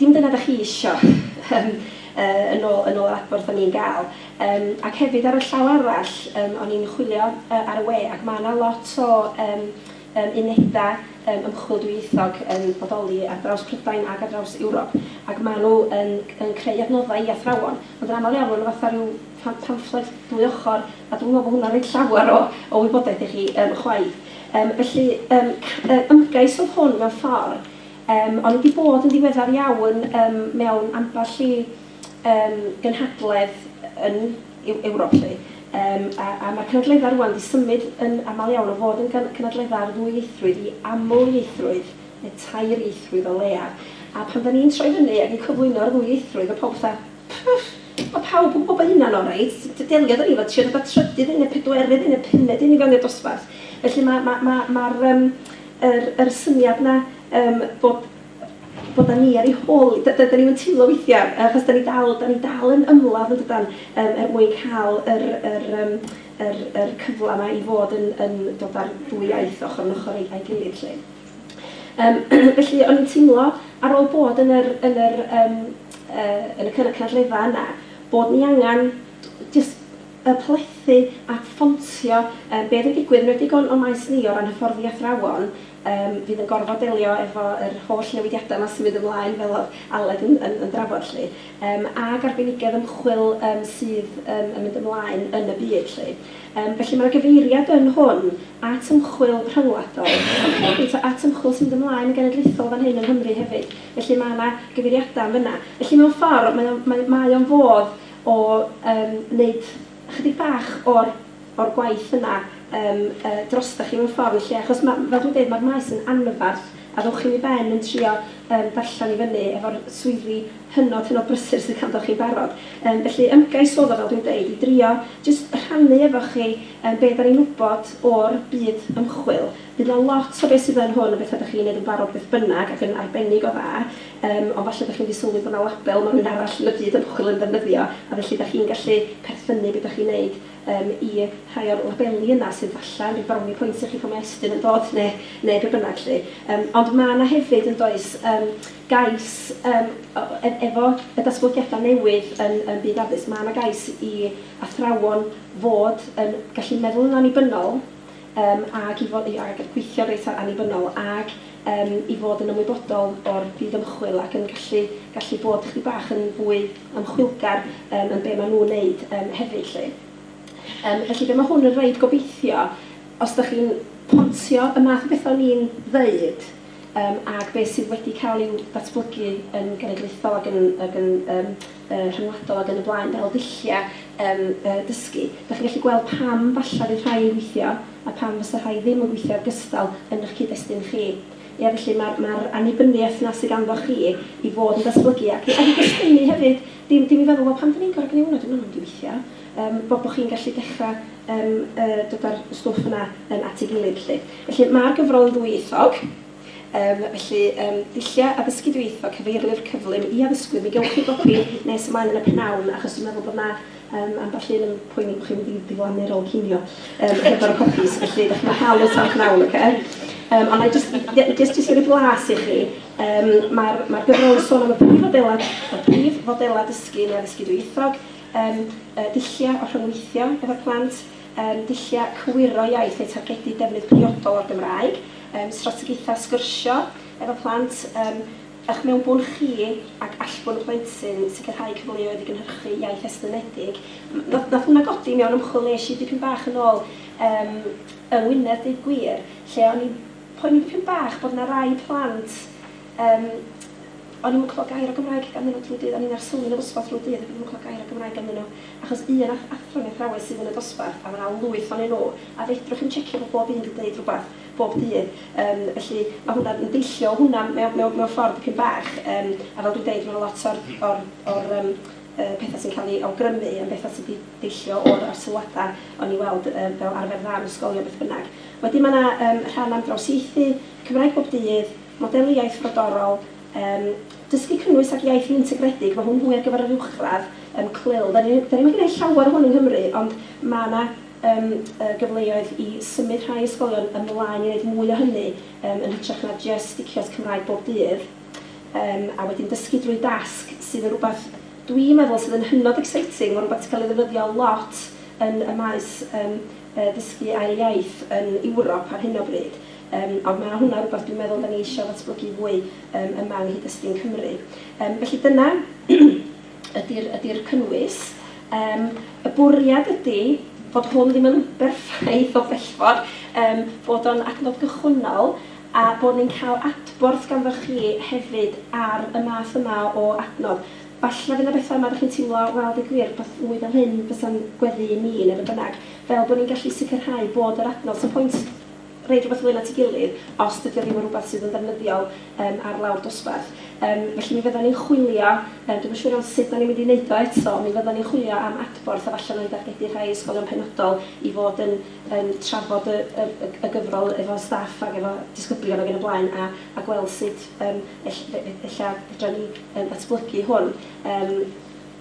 Dim dyna dach chi isio yym yy yn ôl yn ôl yr adborth o'n i'n gael. Yym, ac hefyd ar y llaw arall yym o'n i'n chwilio yy ar y we ac mae yna lot o yym yym unedau yym ymchwil dwyieithog yn bodoli ar draws Prydain ac ar draws Ewrop ac maen nhw yn yn creu adnoddau i athrawon ond yn aml iawn maen nhw fatha rhyw pha- pamffled dwy ochr A dwi'm yn meddwl bod hwnna'n rhoi llawer o o wybodaeth i chi yym chwaith. Yym felly yym c- yy ymgais oedd hwn mewn ffordd, yym o'n i 'di bod yn ddiweddar iawn yym mewn ambell i yym gynhadledd yn Eu- Ewrop 'lly, yym a a ma'r cynadleddau rŵan 'di symud yn aml iawn o fod yn gyn- cynadleddau ar ddwyieithrwydd i amlieithrwydd neu tair-ieithrwydd o leiaf. A pan 'dan ni'n troi fyny ac yn cyflwyno'r ddwyieithrwydd ma' pawb fatha 'Pwff! Mae pawb yn gwybod bod hynna'n oreit. Deliodd ni efo triodd y trydydd un, y pedwerydd un, y pumed un i fewn i'r dosbarth. Felly mae ma ma ma'r yym yr yr syniad 'na yym bod bod â ni ar ei hôl hi. Dydan ni'm yn teimlo weithiau, achos dan ni dal dan ni dal yn ymladd yn dydan yym er mwyn cael yr yr yym yr yr cyfle 'ma i fod yn yn dod â'r ddwy iaith ochr yn ochr a'i a'i gilydd 'lly. Yym felly o'n i'n teimlo ar ôl bod yn yr yn yr yym yy yn y cyn- cynulleidfa yna bod ni angen jyst yy plethu a ffontio yym be oedd yn digwydd, yn enwedig o'n o'n maes ni o ran hyfforddi athrawon yym fydd yn gorfod delio efo yr holl newidiadau 'ma sy'n mynd ymlaen fel oedd Aled yn yn yn drafod 'lly yym ag arbenigedd ymchwil yym sydd yym yn mynd ymlaen yn y byd 'lly. Yym, felly mae'r gyfeiriad yn hwn at ymchwil rhyngwladol, ond hefyd at ymchwil sy'n mynd ymlaen yn genedlaethol fan hyn yng Nghymru hefyd. Felly mae 'na gyfeiriadau yn fan'na. Felly mewn ffordd mae o'n mae mae o'n fodd o yym wneud ychydig bach o'r o'r gwaith yna yym yy drostoch chi mewn ffordd yn lle, achos ma' fel dwi'n deud, mae'r maes yn anferth. A ddowch chi'm i ben yn trio yym darllen i fyny efo'r swyddi hynod hynod brysur sydd ganddoch chi'n barod. Yym felly ymgais oedd o fel dwi'n deud i drio jyst rhannu efo chi yym be' 'dan ni'n wbod o'r byd ymchwil. Bydd 'na lot o be' sydd yn hwn yn betha' 'dach chi'n neud yn barod beth bynnag ac yn arbennig o dda yym ond falle 'dach chi'm 'di sylwi bo' 'na label ma' rywun arall yn y byd ymchwil yn ddefnyddio a felly 'dach chi'n gallu perthynnu be' 'dach chi'n neud Yym, i rhai o'r labeli yna sydd falle yn rhyw brownie points i chi pan mae Estyn yn dod, neu neu be bynnag 'lly. Yym, ond mae 'na hefyd, yn does, yym, gais yym o- e- efo y datblygiadau newydd yn yn byd addysg, mae 'na gais i athrawon fod yn gallu meddwl yn annibynnol yym ac i fod i a- gallu gweithio reit a- annibynnol ac yym i fod yn ymwybodol o'r byd ymchwil ac yn gallu gallu bod chydig bach yn fwy ymchwilgar yym yn be ma' nhw'n neud yym hefyd 'lly. Yym felly be ma' hwn yn roid gobeithio os dach chi'n pontio y math o betha o'n i'n ddeud yym ag be sydd wedi ca'l i'w datblygu yn genedlaethol ag yn ag yn yym yy rhyngwladol ag yn y blaen fel ddullia yym yy dysgu dach chi'n gallu gweld pam falla fydd rhai yn gweithio a pam fysa rhai ddim yn gweithio gystal yn 'ych cyd-destun chi. Ie, felly mae'r mae'r annibyniaeth 'na sy ganddoch chi i fod yn datblygu ac i ac i gystynnu hefyd, dim dim i feddwl, 'Wel, pam 'dyn ni'n gorfod gneud hwnna? Dyw hwnna ddim yn mynd i weithio. Yym, bo' bo' chi'n gallu dechra yym yy dod â'r stwff yna yym at ei gilydd 'lly. Felly, mae'r gyfrol yn ddwyieithog, yym felly yym dulliau addysgu dwyieithog, cyfeirlyfr cyflym i addysgwyr, mi gewch chi gopi nes ymlaen yn y p'nawn achos dwi'n meddwl bod 'na Yym, ambell un yn poeni bod chi'n mynd i ddiflannu ar ôl cinio yym hefo'r popis, felly dach chi'n mynd i gael y talk nawr, ocê? Yym, ond wna i jyst, ie, jyst jyst rhoi blas i chi, yym, mae'r mae'r gyfrol yn sôn am y prif fodelau, y prif fodelau dysgu neu addysgu dwyieithog, yym, yy, dulliau o rhyngweithio efo'r plant, yym, dulliau cywiro iaith eu targedu defnydd priodol o'r Gymraeg, yym, strategaethau sgyrsio efo plant, yym, Eich mewnbwn chi ac allbwn y plentyn, sicrhau cyfleoedd i gynhyrchu iaith estynedig. Wnaeth hwnna godi mewn ymchwil wnes i dipyn bach yn ôl yym yng Ngwynedd deud gwir lle o'n i'n poeni dipyn bach bod 'na rai plant yym o'n i'm yn clywed gair o Gymraeg ganddyn nhw drwy'r dydd, o'n i'n arsylwi yn y ddosbarth drwy'r dydd ac o'n i'm yn clywed gair o Gymraeg ganddyn nhw achos un ath- athro neu athrawes sydd yn y dosbarth a ma' 'na lwyth ohonyn nhw a fedrwch chi'm tsiecio bod bob un 'di deud rhywbeth bob dydd. Yym, felly, ma' hwnna yn deillio o hwnna mewn mewn mewn ffordd dipyn bach. Yym, a fel dwi'n deud, ma' 'na lot o'r o'r o'r yym yy petha sy'n cael eu awgrymu yn betha sy' 'di deillio o'r o'r sylwada o'n i weld yy fel arfer dda yn ysgolion beth bynnag. Wedyn ma' 'na yym rhan am drawsieithu, Cymraeg bob dydd, modelu iaith frodorol, yym dysgu cynnwys ac iaith feintegredig, ma' hwn fwy ar gyfer yr uwchradd, yym CLIL. 'Da ni 'da ni'm yn gneud llawer o hwn yng Nghymru ond ma' 'na Yym, y gyfleoedd i symud rhai ysgolion ymlaen i wneud mwy o hynny, yym, yn hytrach na jest sticio at Cymraeg bob dydd, yym, a wedyn dysgu drwy dasg, sydd yn rhywbeth dwi'n meddwl sydd yn hynod exciting, mae'n rhywbeth sy'n cael ei ddefnyddio lot yn y maes, yym, yy, dysgu ail iaith yn Ewrop ar hyn o bryd, yym, ond mae hwnna rhywbeth dwi'n meddwl 'da ni eisiau ddatblygu fwy, yym, yma yng nghyd-destun Cymru. Yym, felly dyna. ydy'r ydy'r cynnwys. Yym y bwriad ydy fod hwn ddim yn berffaith o bellfod, yym bod o'n adnodd gychwynnol a bod ni'n cael adborth ganddoch chi hefyd ar y math yma o adnodd. Falle fydd 'na betha' yma 'da chi'n teimlo, wel deu gwir, wbath mwy fel hyn fysa'n gweddu i mi, neu be' bynnag, fel bod ni'n gallu sicrhau bod yr adnodd... So pwynt roid rhywbeth fwy na ti'gilydd os dydi o ddim yn rhywbeth sydd yn ddefnyddiol yym ar lawr dosbarth. Yym felly mi fyddwn ni'n chwilio, yy dwi'm yn siŵr iawn sut 'dan ni'n mynd i neud o eto, mi fyddwn ni'n chwilio am adborth efallai wna i dargedu rhai ysgolion penodol i fod yn yn trafod y y y y gyfrol efo staff ac efo disgyblion ac yn y blaen a a gweld sut yym ell- fe- fe- ella fedran ni yym ddatblygu hwn. Yym.